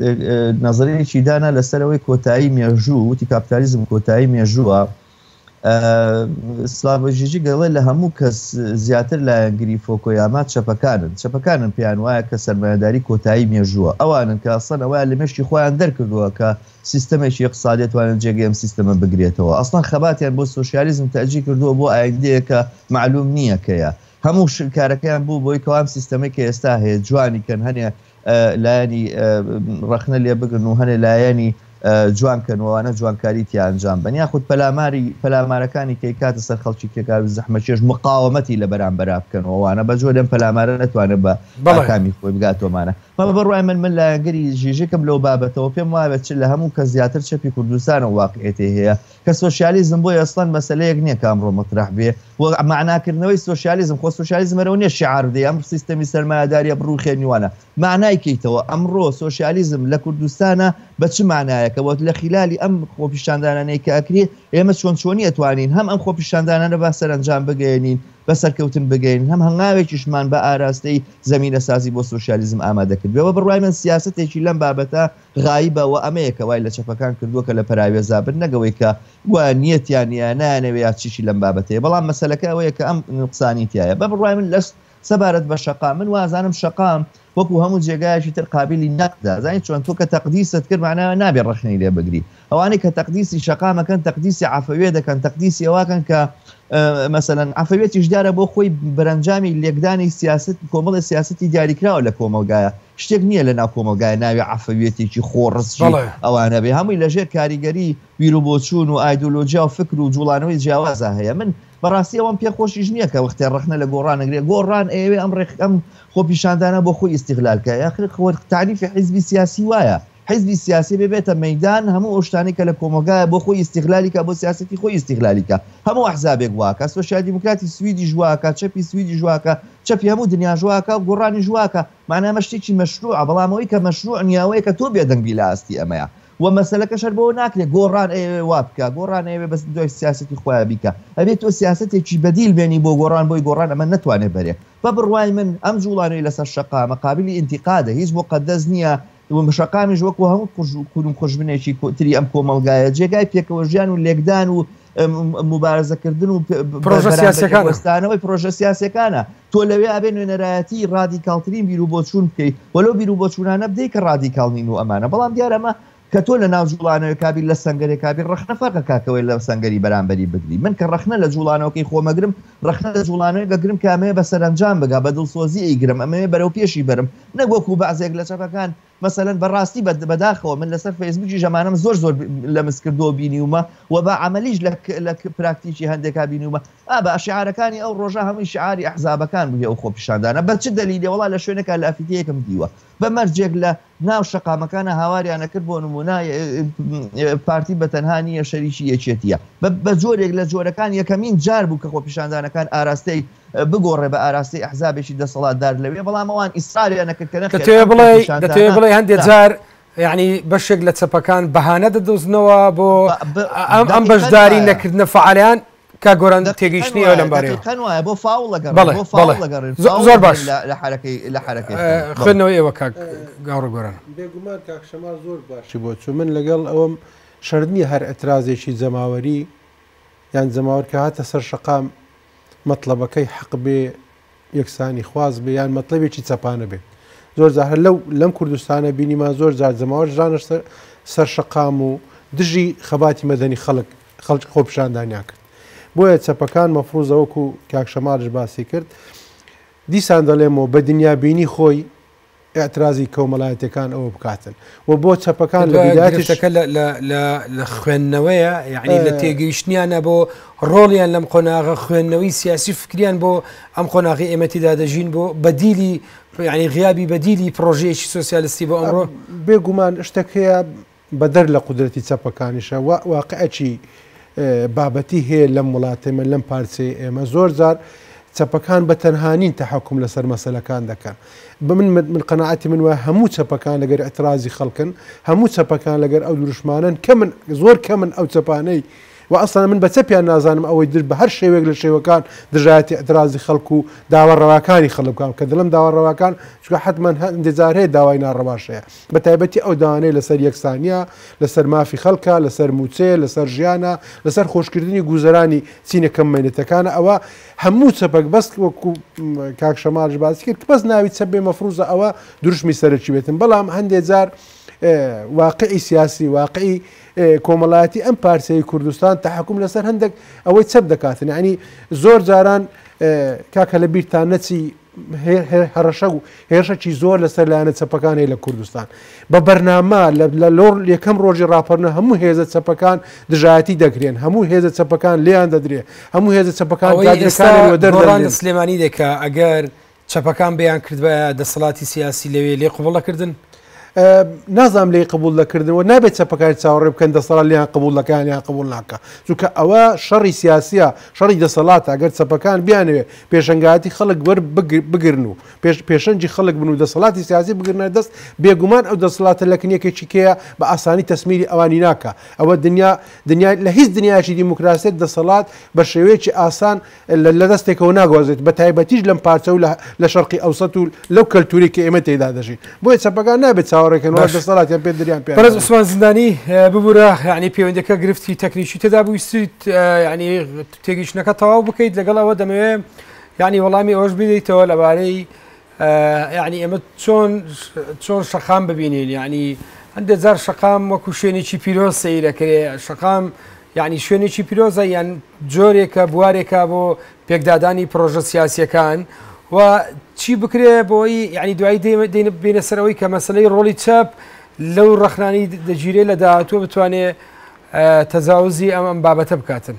نظرەیەکی دانا لەسەرەوەی کۆتایی مێژوو وتی کاپتالیزم کۆتایی مێژووە سلاڤژیجی گەڵێ لە هەموو کەس زیاتر لایەنگری فۆکۆیاما چەپەکانن چەپەکانن پێیان وایە کە سەرمایهداری کۆتایی مێژووە ئەوانن کە ئەسەن ئەوە لە مشتی خۆیان دەرکردووە کە سیستەمێکی یەکساڵ دەتوانێت جێگەی ئەم سیستەمە بگرێتەوە. ئەسڵەن خەباتیان بۆ سۆشیالیزم تەئجیل کردووە بۆ ئایندەیەک کە مەعلووم نییە کەیە. هەموو کارەکەیان بوو بۆی کەوا ئەم سیستەمەی کە ئێستا هەیە جوانی کەن هەنێ لایەنی ڕەخنە لێ بگرن و هەنێ لایەنی جوان کەن وانە جوانکاری تیا ئەنجام بەن یاخود پەلاماری پەلامارەکانی کەی کاتە سەر خەڵکی کێکار و زەحمەکێش مقاومەتی لە بەرامبەرا بکەن وانە بەجۆ لەم پەلامارە نەتوانێت بە بەڵکامی خۆی بگاتۆمانە بەڵام بەڕای من، من لایەنگری ژیژکم لەو بابەتەوە، پێم وابێت چ لە هەموو کەس زیاتر چەپی کوردستانە واقعیەتێ هەیە کە سۆشیالیزم بۆی ئەسڵەن مەسەلەیەک نیە کە ئەمڕۆ مەترەح بێ و مەعنا کردنەوەی سۆشیالیزم، خۆ سۆشیالیزم هەرەوە نیە شیعار بدەی ئەمڕ سیستەمی سەرمایەداریە بڕوخێنی وانە مەعنای کەیتەوە ئەمڕۆ سۆشیالیزم لە کوردستانە بە چ مەعنایەکە وە لە خیلالی ئەم خۆپیشاندانانەی کە ئەکرێ ئێمە چۆن چۆنی ئەتوانین هەم ئەم خۆپیشاندانانە با سەرەنجام بگەیەنین بە سەرکەوتن بگەین، هەم هەنگاوێکیشمان بە ئاراستەی زەمینەسازی بۆ سۆشیالیزم ئامادە کردبێ و بە بڕوای من سیاسەتێکی لەم بابەتە غایبە و ئەمەیە کە وای لە چەپەکان کردووە کە لە پەراوێزا بن نەک ئەوەی کە گوایە نیەتیان هەیە یا نایانەوێ یا چیشی لەم بابەتە هەیە بەڵام مەسەلەکە ئەوەیە کە ئەم نوقسانی تیایە بە بڕوای من لەس سەبارەت بە شەقام من وازانم شەقام وەکو هەموو جێگایەکی تر قابلی نەقدە زانین چۆن تۆ کە تەقدیست کرد معناوە نابێ ڕەخنەی لێ بگری ئەوانەی کە تەقدیسی شەقام ئەکەن تەقدیسی عەفەویە دەکەن تەقدیسی ئەواکەن کە مەسەەن عفەوێتیش دیارە بۆ خۆی بەرەنجامی لێکدانی سیاست کۆمەڵی سیاستی دیاریکراوە لە کۆمەلگایە شتێک نییە لە ناو کۆمەلگای ناوی عفەوێتێکی خۆڕزی ئەوانە بێ هەمووی لەژێر کاریگەری ویر و بۆچوون و ئایدۆلۆژیا و فکر و جوڵانەوەی جیاوازە هەیە من بەڕاستی ئەوم پێ خۆشیش نییە کە وەختێ ڕخنە لە گۆڕانەگرێ گۆڕان ئەوێ ئەم ڕێخ ئەم خۆپیشاندانە بۆ خۆی ئیسیغلالکە یاخر خۆر تعریفی حیزبی سیاسی وایە حیزبی سیاسی ببێتە مەیدان هەموو ئەو شتانەی کە لە کۆمەڵگایە بۆ خۆی ئیستیغلالی کا بۆ سیاسەتی خۆی ئیستیغلالی کا هەموو ئەحزابێک وا کا سۆسیال دیموکراتی سویدیش وا کا چەپی سویدیش وا کا چەپی هەموو دنیاش وا کا و گۆڕانیش وا کا مەعنا ئەمە شتێکی مەشرووعە بەڵام ئەوەی کە مەشرووع نییە ئەوەیە کە تۆ بێدەنگ بی لە ئاستی ئەمەیا و مەسەلەکەش هەر بەوە ناکرێت گۆڕان ئەیەوێ وا بکا گۆڕان ئەیەوێ بەس دوای سیاسەتی خۆیان بیکا ئەبێت تۆ سیاسەتێکی بەدیل بێنی بۆ گۆڕان بۆی گۆڕان ئەمە نەتوانێت بەرێ بە بڕوای من ئەم جووڵانەی لەسەر شەقامە قابلی ئینتیقادە هیچ موقەدەس نییە و شەقامیش وەکو هەموو قژ و کون و قژبنێکی کۆتری ئەم کۆمەلگایە جێگای پێکەوە ژیان و لێکدان و مبارزەکردن و پرۆژەستانەوەی پرۆژە سیاسەکانە تۆ لەوێ ئابێ نوێنەرایەتی ڕادی کاڵترین بیر و بۆچوون بکەیت وەلو بیر و بۆچوونانە بدەیت کە ڕادی کاڵنین و ئەمانە بەڵام دیارەمە کە تۆ لە ناو جوڵانەوە کابی لە سنگەرێکابی ڕخنە فەرقە کاکەوەی لە سنگەری بەرامبەری بگری من کە ڕخنە لە جوڵانەوەکەی خۆمەگرم ڕەخنە لە جوڵانەوەی بەگرم کە ئەمەوێ بە سەرەنجام بگا، بە دڵسۆزی ئەیگرم، ئەمەوێ بەرەو پێشی بەرم، نەک وەکوو بەعزێک لە چەپەکان، مەسەلەن بە ڕاستی بە بەداخەوە من لەسەر فەیسبووکیش ئەمانەم زۆر زۆر لەمس کردووە و بینیومە و بە عەمەلیش لە لە پراکتیکی هەندێکا بینیومە، ئابا شیعارەکانی ئەو ڕۆژە هەمووی شیعاری ئەحزابەکان بوو هی ئەو خۆپیشاندانە، بە چ دەلیلێ وەڵا لە شوێنێکا لە ئەفیتەیەکم دیوە. بە مەرجێک لە ناو شەقامەکانە هاواریان نەکرد بۆ نمونە پارتی بە تەنها نییە شەریکی یەکێتیە بە جۆرێک لە جۆرەکان یەکەمین جار بوو کە خۆپیشاندانەکان ئاراستەی بگۆڕێ بە ئاراستەی ئەحزابێکی دەسەڵاتدار لەوێ بەڵام ئەوان ئیسراریان نەکردکەنە تێ بڵێ بڵێ هەندێک جار یعنی بەشێک لە چەپەکان بەهانە دەدۆزنەوە بۆ ئەم بەشداری نەکردنە فعالیان کاک گۆران تێگەیشتنی ئێوە لەم بارەیەوە دەقیقەن وایە بۆ فاوڵ لەگەڕ بەڵێ، بۆ فاوڵ بەڵێ. لەگەڕێن زۆ- فاوڵ زۆر دەبین باش. لە- لە حەرەکەی لە حەرەکەی خۆمان. بەڵێ. خوێندنەوەی ئێوە کاک گاوڕ گۆران بێگومان کاک شەماڵ زۆر باشی بۆ چوو من لەگەڵ ئەوەم شەرت نییە هەر ئەترازێکی جەماوەری یان جەماوەر کە هاتە سەر شەقام مەتڵەبەکەی حەق بێ یەکسانی خواز بێ یان مەتلەبێکی چەپانە بێ زۆر جا هەر لەو لەم کوردستانە بینیمان زۆر جار جەماوەر ژانە سەر شەقام و دژی خەباتی مەدەنی خەڵک خەڵکی خۆپشاندانیان کرد بۆیە چەپەکان مەفروزەوەکو کاکشەمارش باسی کرد دیسان دەڵێمەوە بە دنیابینی خۆی ئیعترازی کۆمەلایەتیەکان ئەوە بکاتن و بۆ چەپەکان لە بیداتەکە لە خوێندنەوەیە یعنی لە تێگەیشتنیانە بۆ ڕۆڵیان لەم قۆناغە خوێندنەوەی سیاسی فکریان بۆ ئەم قۆناغی ئێمەتیدا دەژین بۆ بەدیلی ینی غیابی بەدیلی پرۆژەیەکی سوسیالستی بۆ ئەمڕۆ بێگومان شتەکەیە بەدەر لە قودرەتی چەپەکانیشە وا واقعێکی بابەتی هەیە لەم وڵاتەی من لەم پارچەی ئێمە زۆر جار چەپەکان بە تەنها نین تەحکم لەسەر مەسەلەکان دەکەن بە من من قەنەعەتی من وای هەموو چەپەکان لەگەر اعترازی خەڵکن هەموو چەپەکان لەگەر ئەو دروشمانن کە من زۆر کە من ئەو چەپانەی و ئەسڵان من بە چەپیان نازانم ئەوەی در بە هەر شێوێک لە شێوەکان دژایەتی اعترازی خەڵک و داوا ڕەواکانی خەڵک بکەم کە دڵم داوا ڕەواکان چونکە حتمما هەندێک جار هەیە داوای ناڕەواش هەیە بە تایبەتی ئەو داوانەی لەسەر یەکسانییە، لەسەر مافی خەڵکە، لەسەر مووچەیە، لەسەر ژیانە، لەسەر خۆشکردنی گووزەرانی چینە کەم مەینەتەکانە، ئەوە هەموو چەپەک بەس وەکو کاک شەماڵیش باسی کرد بەس ناوی چەپ بێ مەفرووزە ئەوە دروشمی سەرەکی بێتن بەڵام هەندێ جار واقعی سیاسی واقعی کۆمەڵایەتی ئەم پارچەی کوردستان تحکم لەسەر هەندێک ئەوەی چەپ دەکاتن ینی زۆر جاران کاکە لە بیرتان نەچی هەڕەشە و هێرشەکی زۆر لەسەر لایەنە چەپەکان هەیە لە کوردستان بە بەرنامە لە لۆڕ یەکەم ڕۆژی ڕاپەرنە هەموو هێزە چەپەکان دژایەتی دەکرێن هەموو هێزە چەپەکان لێیان دەدرێ هەموو هێزە چەپەکان دەرڕان سلێمانی دەکا ئەگەر چەپەکان بیان کردوە دەسەڵاتی سیاسی لەوێ لێ قوبڵەکردن. نازانم لێی قبوڵ دەکردن و نابێت چەپەکانی چاوەڕێ بکەن دەسەڵات لێیان قبوڵ دەکەیان یان قبوڵ ناکا چونکە ئەوە شەڕی سیاسیە شەڕی دەسەڵاتە ئەگەر چەپەکان بیانەوێت پێشەنگایەتی خەڵک وەر بگرن و پێش پێشەنجی خەڵک بن و دەسەڵاتی سیاسی بگرنە دەست بێگومان ئەو دەسەڵاتە لە کنیەکێکی کێیە بە ئاسانی تەسمیری ئەوانی ناکا ئەوە دنیا دنیا لە هیچ دنیایەکی دیموکراسیت دەسەڵات بە شێوەیەکی ئاسان لە دەستێکەوە ناگوازرێت بە تایبەتیش لەم پارچە و لە شەرقی ئەوسەت و لەو کەلتوری کە ئێمە تێدا دەژین بۆیە چەپەکان نابێت چاوەڕێکەن وە دەسەڵاتیان پێ دریان پێ بەرز عوسمان زیندانی ببوورە ینی پەیوەندەکە گرفتی تەکنیکی تێدا بوویستیت ینی تێگەیشتنەکە تەواو بکەیت لەگەڵ ئەوە دەمەوێت ینی وەڵامی ئەوەش بدەیتەوە لەبارەی یانی ئێمە چۆن چۆن شەقام ببینین یعنی هەندێ جار شەقام وەکو شوێنێکی پیرۆز سەیرەکرێ شەقام یعنی شوێنێکی پیرۆزە یان جۆرێکە بوارێکە بۆ پێکدادانی پرۆژە سیاسیەکان و چی بکرێ بۆی یعنی دوایی بینە سەرەوەی کە مەسلەی ڕۆڵی چەپ لەو ڕخنانی دەگیرێ لە داهاتوە بتوانێ تەزاوزی ئەم ئەم بابەتە بکاتن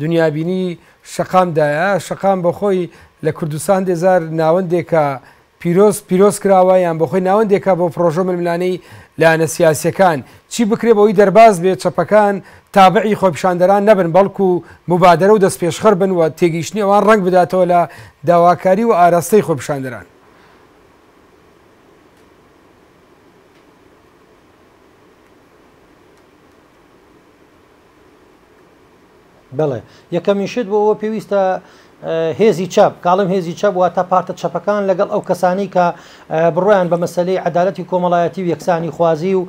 دنیابینی شەقام دایە، شەقام بۆخۆی لە کوردستان هەندێ جار ناوەندێکە پیرۆز پیرۆز کراوە یان بۆخۆی ناوەندێکە بۆ پرۆژە ململانێی لایەنە سیاسیەکان چی بکرێ بەوەی دەرباز بێ چەپەکان تابعی خۆپیشاندەران نەبن بەڵکو موبادەرە و دەستپێشخەر بن و تێگەیشتنی ئەوان ڕەنگ بداتەوە لە داواکاری و ئاراستەی خۆپیشاندەران. بەڵێ یەکەمین شت بۆ ئەوە پێویستە هێزی چەپ کاڵم هێزی چەپ واتە پارتە چەپەکان لەگەڵ ئەو کەسانی کە بڕۆیان بە مەسلەی عدالەتی کۆمەڵایەتی و یەکسانی خوازی و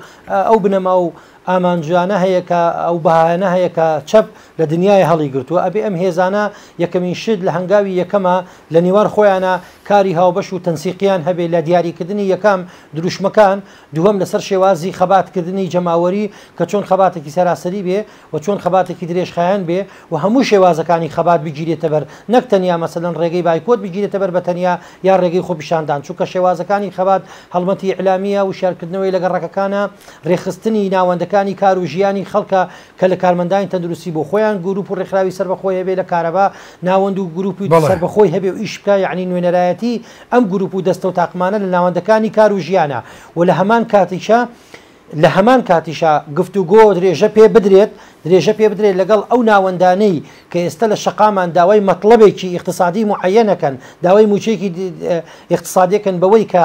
ئەو بنەما و ئامانجویانە هەیە کە ئەو بەهایانە هەیە کە چەپ لە دنیای هەڵی گرتووە ئەبێ ئەم هێزانە یەکەمین شت لە هەنگاوی یەکەمە لە نێوان خۆیانە کاری هاوبەش و تەنسیقیان هەبێ لە دیاریکردنی یەکەم دروشمەکان دووەم لەسەر شێوازی خەباتکردنی جەماوەری کە چۆن خەباتێکی سەراسەری بێ و چۆن خەباتێکی درێژخایەن بێ و هەموو شێوازەکانی خەبات بگیرێتە بەر نەک تەنیا مەسەلەن ڕێگەی بایکۆت بگیرێتە بەر بە تەنیا یا ڕێگەی خۆپیشاندان چونکە شێوازەکانی خەبات هەڵمەتی ئیعلامییە وشیارکردنەوەی لە گەڕەکەکانە ڕێکخستنی ناوەندەکانی کار و ژیانی خەڵکە کە لە کارمەندانی تەندروستی بۆ خۆیان گروپ و ڕێکخراوی سەربەخۆی هەبێ لە کارەبا ناوەند و گروپی سەربەخۆی هەبێ و ئیش بکا یەعنی نوێنەرایەتی ئەم گروپ و دەستەو تاقمانە لە ناوەندەکانی کار و ژیانە و لە هەمان کاتیشا لە هەمان کاتیشا گفتوگۆ درێژە پێ بدرێت درێژە پێ بدرێت لەگەڵ ئەو ناوەندانەی کە ئێستا لە شەقامان داوای مەتڵەبێکی ئیقتسادی معەیەنەکەن داوای موچەیەکی ئیقتسادیەکەن بەوەی کە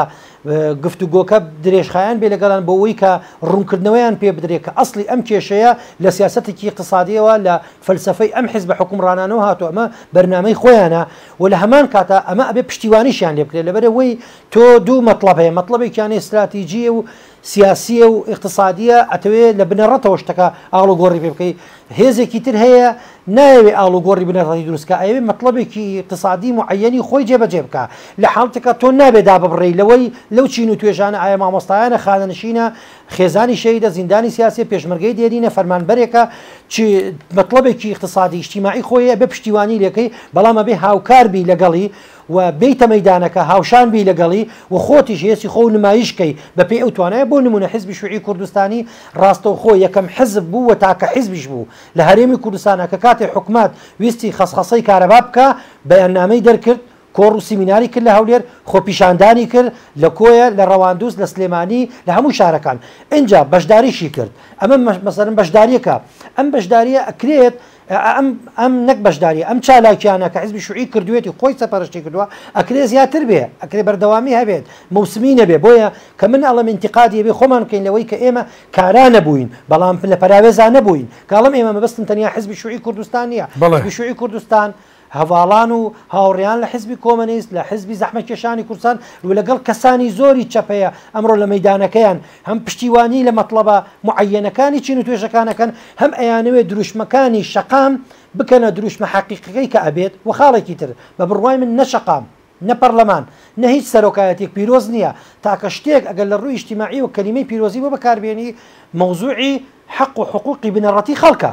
گفتوگۆکە درێژخایەن بێ لەگەڵان بۆەوەی کە ڕوونکردنەوەیان پێ بدرێت کە ئەسلی ئەم کێشەیە لە سیاستێکی ئیقتسادیەوە لە فەلسفەی ئەم حزب حکومڕانانەوە هاتووە ئەمە بەرنمەی خۆیانە وە لە هەمان کاتا ئەمە ئەبێ پشتیوانیشیان لێ بکرێ لەبەر ئەوەی تۆ دوو مەتڵەب هەیە مەتڵەبێکیان هەیە ستراتیجیە و سیاسیە و ئیقتسادیە ئەتەوێ لە بنەڕەتەوە شتەکە ئاڵوگۆڕی پێ بکەی هێزێکی تر هەیە نایەوێ ئاڵوگۆڕی بنەڕەتی دروست کا ئەیەوێ مەتڵەبێکی ئیقتسادی موعەیەنی خۆی جێ بەجێ بکا لە حاڵتێکا تۆ نابێ داببڕێی لەوەی لەو چین و توێژانە ئایە مامۆستایانە خانەنشینە خێزانی شەهیدە زیندانی سیاسیە پێشمەرگەی دێرینە فەرمانبەرێکە چ مەتڵەبێکی ئیقتسادی ئیجتیماعی خۆی هەیە ئەبێ پشتیوانی لێکەی بەڵام ئەبێ هاوکار بی لەگەڵی و بێیتە مەیدانەکە هاوشان بی لەگەڵی و خۆتیش هێستی خۆو نمایش کەی بەپێی ئەو توانایە بۆ نمونە حزبی شوعی کوردستانی ڕاستەوخۆ یەکەم حزب بوو و تاکە حزبیش بوو لە هەرێمی کوردستانا کە کاتێ حکومەت ویستی خەسخەسەی کارەبا بکا بەیاننامەی دەرکرد کۆڕ و سیمیناری کرد لە هەولێر، خۆپیشاندانی کرد لە کۆیە، لە ڕەواندوز، لە سلێمانی، لە هەموو شارەکان. ئینجا بەشداریشی کرد. ئەمە مەسەلەن بەشدارییەکە. ئەم بەشدارییە ئەکرێت ئەم ئەم نەک بەشدارییە، ئەم چالاکییانە کە حیزبی شوعی کردوویەتی، خۆی سەرپەرشتی کردووە، ئەکرێ زیاتر بێ، ئەکرێ بەردەوامی هەبێت، موسمی نەبێ. بۆیە کە من ئەڵێم ئینتیقادی ئەبێ خۆمان بکەین لەوەی کە ئێمە کارا نەبووین، بەڵام لە پەراوێزا نەبووین. کە ئەڵێم ئێمە مەبەستم تەنیا حیزبی شوعی کوردستان نییە. حیزبی شوعی کوردستان. هەڤاڵان و هاوڕێیان لە حیزبی کۆمەنیست، لە حیزبی زەحمەتکێشانی کوردستان و لەگەڵ کەسانی زۆری چەپ هەیە ئەمڕۆ لە مەیدانەکەیان، هەم پشتیوانیی لە مەتڵەبە موعەیەنەکانی چین و توێژەکان ئەکەن، هەم ئەیانەوێت دروشمەکانی شەقام بکەنە دروشمە حەقیقیەکەی کە ئەبێت و خاڵێکی تر، بە بڕوای من نە شەقام، نە پەڕلەمان، نە هیچ سەرۆکایەتیەک پیرۆز نیە، تاکە شتێک ئەگەر لە ڕووی ئیجتیماعیەوە کەلیمەی پیرۆزی بۆ بەکاربێنی، مەوزوعی حەق و حقوقی بنەڕەتی خەڵکە.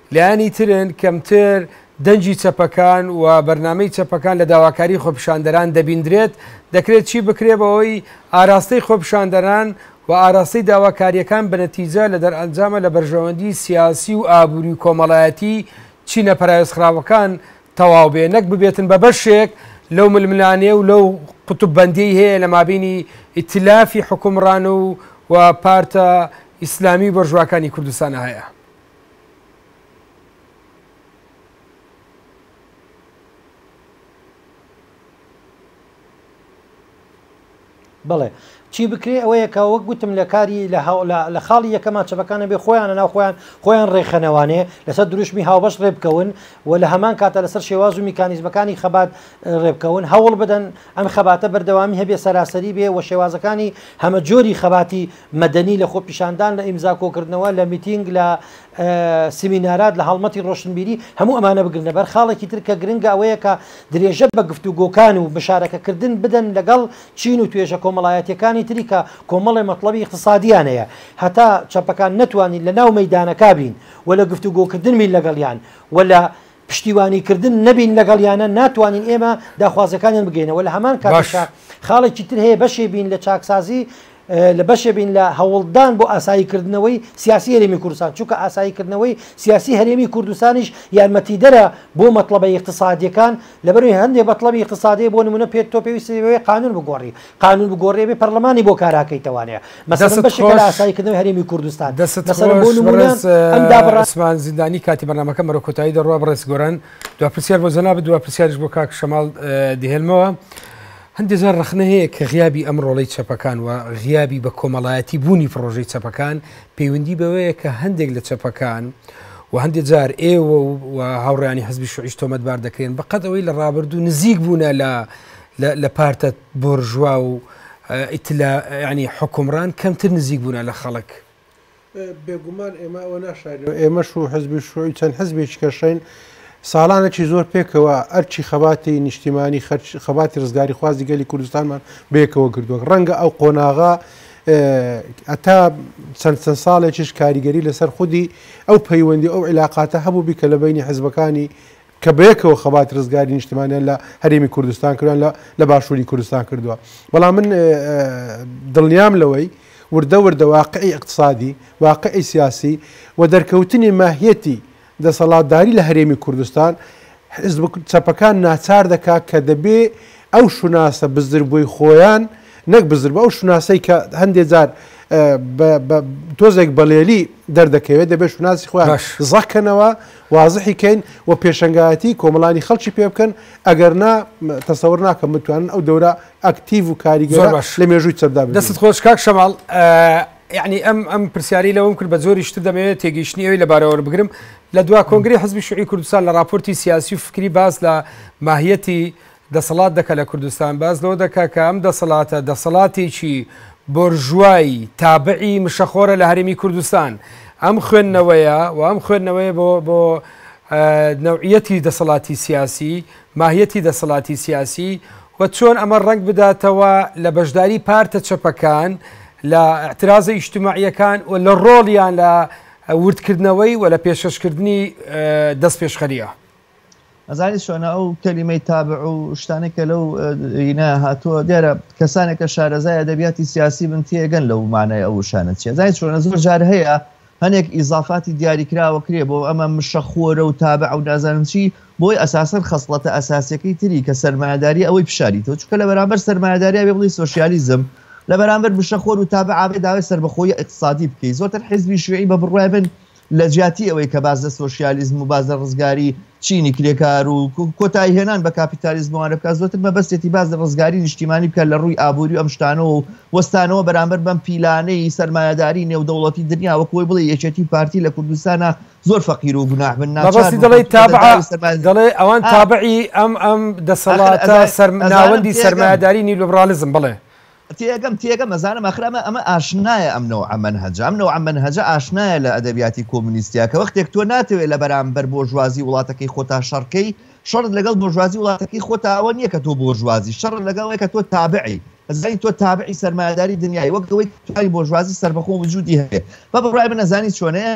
لایەنی ترن کەمتر، دەنگی چەپەکان و بەرنامەی چەپەکان لە داواکاری خۆپیشاندەران دەبیندرێت، دەکرێت چی بکرێت بەوەی ئاراستەی خۆپیشاندەران و ئاراستەی داواکارییەکان بە نەتیجە لە دەرئەنجامە لە بەرژەوەندی سیاسی و ئابوری و کۆمەڵایەتی چینە پەراوێزخراوەکان تەواو بێ نەک ببێتن بە بەشێک لەو ململانێ و لەو قوتب بەندیەی هەیە لە مابینی ئیتلافی حوکمڕان و پارتە ئیسلامی و بۆرژواکانی کوردستانە هەیە. بڵێ چی بکرێ ئەوەیە کە وەک گوتم لە کاری لە لە خاڵی یەکەمان چەپەکانە بێ خۆیانە ناو خۆیان خۆیان ڕێکخەنەوانێ لەسەر دروشمی هاوبەش ڕێبکەون و لە هەمان کاتە لەسەر شێواز و میکانیزمەکانی خەبات ڕێبکەون هەوڵ بدەن ئەم خەباتە بەردەوامی هەبێ سەراسەری بێ و شێوازەکانی هەمە جۆری خەباتی مەدەنی لە خۆپیشاندان لە ئیمزا کۆکردنەوە لە میتینگ لە سیمینارات لە هەڵمەتی ڕۆشنبیری هەموو ئەمانە بگرنە بەر خاڵێکی تر کە گرنگە ئەوەیە کە درێژە بە گفتوگۆکان و مشارەکە کردن بدەن لەگەڵ چین و توێژە کۆمەڵایەتیەکانی تری کە کۆمەڵێ مەتڵەبی ئیقتسادیان هەیە هەتا چەپەکان نەتوانین لە ناو مەیدانەکا بین و لە گفتوگۆکردن بین لەگەڵیان و لە پشتیوانیکردن نەبین لەگەڵیانە ناتوانین ئێمە داخوازەکانیان بگەینەوە لە هەمان کاتشا خاڵێکی تر هەیە بەشێ بین لە چاکسازی لە بەشێ بین لە هەوڵدان بۆ ئاساییکردنەوەی سیاسی هەرێمی کوردستان چونکە ئاساییکردنەوەی سیاسی هەرێمی کوردستانیش یارمەتیدەرە بۆ مەطلبە اقتصادیەکان لەبەروی هەندێک بەطلبی اقتصادی بۆ نمونە پێت تۆ پێویستەوەی قانون بگۆڕی قانون بگۆڕێ بێ پەرلەمانی بۆ کاراکەی توانێ مەسەن بەشێکە لە ئاساییکردنەوەی هەرێمی کوردستان دەسەن بۆ نمونە ئەم دابڕاسمان زیندانی کاتی بەرنمەکە مەرە کۆتایی دەڕوا بڕێز گۆران دو پرسیار بۆ زەنا بدووە پرسیارش بۆ کاک شەماڵ دهێنمەوە هەندێک جار ڕخنە هەیە کە غیابی ئەم ڕۆڵی چەپەکان و غیابی بە کۆمەڵایەتی بوونی پرۆژەی چەپەکان پەیوەندی بەوەیە کە هەندێک لە چەپەکان و هەندێک جار ئێوە و هاوڕیانی حزبی شوعیش تۆمەتبار دەکرێن بەقەت ئەوەی لە ڕابردوو نزیک بوونە لە لە لە پارتە بۆرژوا و ئیتلا یانی حوکمڕان کەمتر نزیک بوونە لە خەڵک. بێگومان ئێمە ئەوە ناشارینەوە، ئێمەش و حزبی شوعی چەند حزبێکی کەشین ساڵانێکی زۆر پێکەوە ئەرکی خەباتی نیشتیمانی خەرکی خەباتی ڕزگاریخوازی گەلی کوردستانمان بەیەکەوە گردووە ڕەنگە ئەو قۆناغە هەتا چەند چەند ساڵێکیش کاریگەری لەسەر خودی ئەو پەیوەندی ئەو عیلاقاتە هەبوو بی کە لە بینی حزبەکانی کە بەیەکەوە خەباتی رزگاری نیشتمانیان لە هەرێمی کوردستان کردوە لە لە باشوری کوردستان کردوە بەڵام من دڵنیام لەوەی وردە وردە واقعی اقتصادی واقعی سیاسی و دەرکەوتنی ماهیەتی دەسەڵاتداری لە هەرێمی کوردستان حزب چەپەکان ناچار دەکا کە دەبێ ئەو شوناسە بزربوی خۆیان نەک بزربە ئەو شوناسەی کە هەندێ جار تۆزێک بەڵێلی دەردەکەوێت دەبێت شوناسی خۆیان زەکەنەوە وازحی کەین و پێشەنگایەتی کۆمەڵانی خەڵکی پێ بکەن، ئەگەر نا تەسەور ناکەم بتوانن ئەو دەورە ئەکتیڤ و زۆر کاریگەرە باش لە مێژووی چەپدا دەستت ببینن. خۆش کاک شەماڵ یەعنی ئەم ئەم پرسیارەی لەوم کرد بە جۆریش تر دەمەوێت تێگەیشتنی ئەوی لەبارەوە وەربگرم لە دوا کۆنگرەی حزبی شوعی کوردستان لە ڕاپۆرتی سیاسی و فکری باس لە ماهیەتی دەسەڵات دەکا لە کوردستان باس لەوە دەکا کە ئەم دەسەڵاتە دەسەڵاتێکی بۆرژوای تابعی مشەخۆرە لە هەرێمی کوردستان ئەم خوێندنەوەیە و ئەم خوێندنەوەیە بۆ بۆ نەوعیەتی دەسەڵاتی سیاسی ماهیەتی دەسەڵاتی سیاسی و چۆن ئەمە ڕنگ بداتەوە لە بەشداری پارتە چەپەکان لە اعتراضە ئیشتماعیەکان و لە ڕۆڵیان لە وردکردنەوەی و لە پێشەشکردنی دەست پێشخەریە. ئەزانی چۆنە ئەو کەلیمەی تابع و شتانە کە لەو ئینە هاتووە دیارە کەسانێک کە شارەزای ئەدەبیاتی سیاسی بن تێگەن لەو مانای ئەو شانە چیە زای چۆنە زۆر جار هەیە هەنێک ئیزافاتی دیاریکراوە کرێ بۆ ئەمە مشە خۆرە و تابع و نازانم چی بۆی ئەساسەر خەسڵەتە ئەساسەکەی تری کە سەرمایداری ئەوەی پیششاری تۆ چکە لە بەرامبەر سەرمایداریا بێ بڵی سوسیالیزم لە بەرامبەر بشە خۆر و تابع ئابێ داوای سربەخۆی اقتصادی بکەیت زۆرتر حزبی شوێی بە بڕای بن لە جیاتی ئەوەی کە باس لە سۆشیالیزم و باس لە ڕزگاری چینی کرێکار و کۆتایی هێنان بە کاپیتالیزموانە بکات زۆتر مەبەستێتی باس لە ڕزگاری نیشتیمانی بکە لە ڕووی ئابووری ئەم شتانەوە و وەستانەوە بەرامبەر بەم پیلانەی سەرمایەداری نێودەوڵەتی دنیا وەکوی بڵێ یەکێتی پارتی لە کوردستانە زۆر فەقیر و گوناح بن ناچار دەڵێ تابع دەڵێ ئەوان تابعی ئەم ئەم دەسەڵاتە سەرمناوەندی سەرمایەداری نیلوبرالیزم بڵێ تێگەم تێگەم ئەزانم ئاخر ئەمە ئەمە ئاشنایە ئەم نەوعە مەنهەجە ئەم نەوعە مەنهەجە ئاشنایە لە ئەدەبیاتی کۆمونیستیا کە وەختێک تۆ ناتەوێ لە بەرامبەر بۆرژوازی وڵاتەکەی خۆتا شەڕکەی شەڕت لەگەڵ بۆرژوازی وڵاتەکەی خۆتا ئەوە نییە کە تۆ بۆرژوازی شەڕت لەگەڵ ئەوەیە کە تۆ تابعی ئەزانی تۆ تابعی سەرمایەداری دنیای وەک ئەوەی توای بۆرژوازی سەربەخۆ وجودی هەیە بە بڕای من ئەزانی چۆنەیە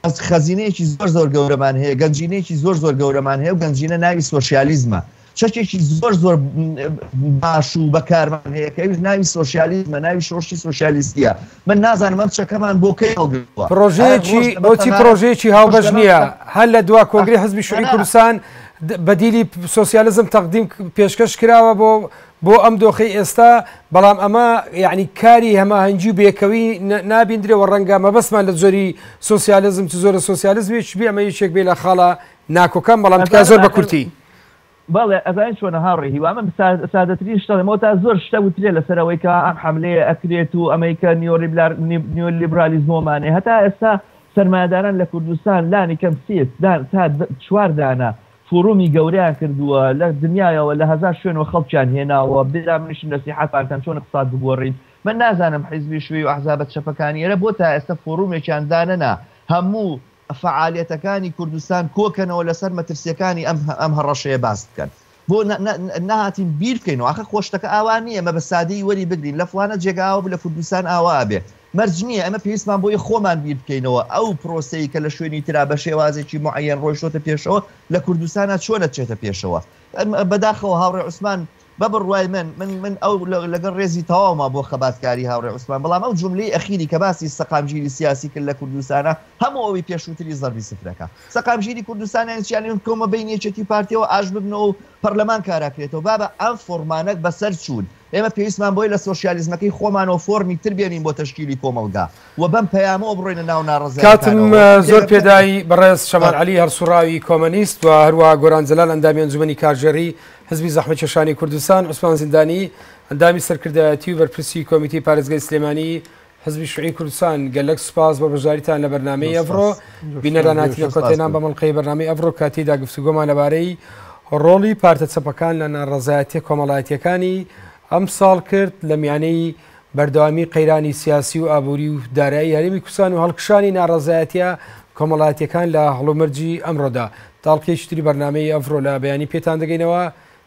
بەس خەزینەیەکی زۆر زۆر گەورەمان هەیە گەنجینەیەکی زۆر زۆر گەورەمان هەیە و گەنجینە ناوی سۆسیالیزمە چەکێکی زۆر زۆر باش و بەکارمان هەیە کە ئەوش ناوی سۆسیالیزمە ناوی شۆشی سۆسیالیستیە من نازانم ئەم چەکەمان بۆ کەی هەڵگرتووە پرۆژەیەکی بۆچی پرۆژەیەکی هاوبەش نییە هەر لە دوا کۆنگری حزبی شوعی کوردستان بەدیلی سۆسیالزم تەقدیم پێشکەش کراوە بۆ بۆ ئەم دۆخەی ئێستا، بەڵام ئەمە یەعنی کاری هەماهەنگی و بێکەوی نابیندرێ و ڕەنگە مەبەستمان لە جۆری سۆسیالزم چ جۆرە سۆسیالزمێکیش بێ، ئەمە یەکێک بێ لە خاڵە ناکۆکان، بەڵام تکایە زۆر بە کورتی. بەڵێ ئەزانیت چۆنە هاوڕێ هیوا، من سادەترین شت ئەڵێم، ئەوەتا زۆر شتە وترێ لەسەر ئەوەی کە ئەم حەملەیە ئەکرێت و ئەمەی کە نیۆلیبرالیزمۆمانێ، هەتا ئێستا سەرمایەداران لە کوردستان لانی کەم سێ تا چوار دانە فورومی گەورەیان کردووە لە دنیایەوە لە هەزار شوێنەوە خەڵکیان هێناوە برا منیشم نەسیحەتان کەم چۆن اقساد بگۆڕین من نازانم حیزبی شوێی و احزابە چەپەکانی ئێرە بۆ تا ئێستا فورومێکیان دانەنا هەموو فەعالیەتەکانی کوردستان کۆکەنەوە لەسەر مەترسیەکانی ئەم هەڕەشەیە باس بکەن بۆ نەهاتین بیرکەینەوە ئاخە خۆ شتەکە ئاوا نیە ئێمە بە سادەیی وەری بگرین لە فڵانە جێگا ئاوا بوو لە کوردستان ئاوا ئەبێ مەرج نییە ئێمە پێویستمان بۆیە خۆمان بیر بکەینەوە ئەو پرۆسەی کە لە شوێنی ترا بە شێوازێکی معەیەن ڕۆیشتۆتە پێشەوە لە کوردستانا چۆن نەچێتە پێشەوە. بەداخەوە هاوڕێ عوسمان بە بڕوای من من من ئەو لەگەڵ ڕێزی تەواوما بۆ خەباتکاری هاوڕێ عوسمان بەڵام ئەو جوملەی ئەخیری کە باسی سەقامگیری سیاسی کرد لە کوردستانا هەموو ئەوی پێشووتری زەربی سفر دەکا. سەقامگیری کوردستان یانی چی یانی ئەوەی بکەومە بەینی یەکێتی و پارتییەوە ئاش ببنەوە و پەرلەمان کاراکرێتەوە بابە ئەم فۆڕمانە بەسەر چوون. ئێمە پێویستمان بەوەی لە سۆشیالیزمەکەی خۆمانەوە فۆرمی تر بێنین بۆ تەشکیلی کۆمەڵگا و بەم پەیامەوە بڕۆینە ناو ناڕەزایەتیکانەوە. کاتم زۆر پێ دای بەڕێز شەمال عەلی هەڵسوڕاوی کۆمەنیست و هەروەها گۆران جەلال ئەندامی ئەنجومەنی کارژێڕی حزبی زەحمەتکێشانی کوردستان، عوسمان زیندانی ئەندامی سەرکردایەتی و بەرپرسی کۆمیتەی پارێزگای سلێمانی، حزبی شوعی کوردستان گەلەک سوپاس بۆ بەشداریتان لە بەرنامەی ئەڤڕۆ بینەران هاتینە کۆتێنان بە مڵقەی بەرنامی ئەڤڕۆ کاتیدا گفتوگۆمان لەبارەی ڕۆڵی پارتە چەپەکان لە ناڕەزایەتە کۆمەڵایەتیەکانی ئەم ساڵ کرد لە میانەی بەردەوامی قەیرانی سیاسی و ئابووری و دارایی هەرمی کوردستان و هەڵکشانی ناڕەزایەتە کۆمەڵایەتەکان لە هەڵومەرجی ئەمڕۆدا تاڵقیشتری بەرنمەی ئەڤرۆ لە بەیانی پێتان دەگەینەوە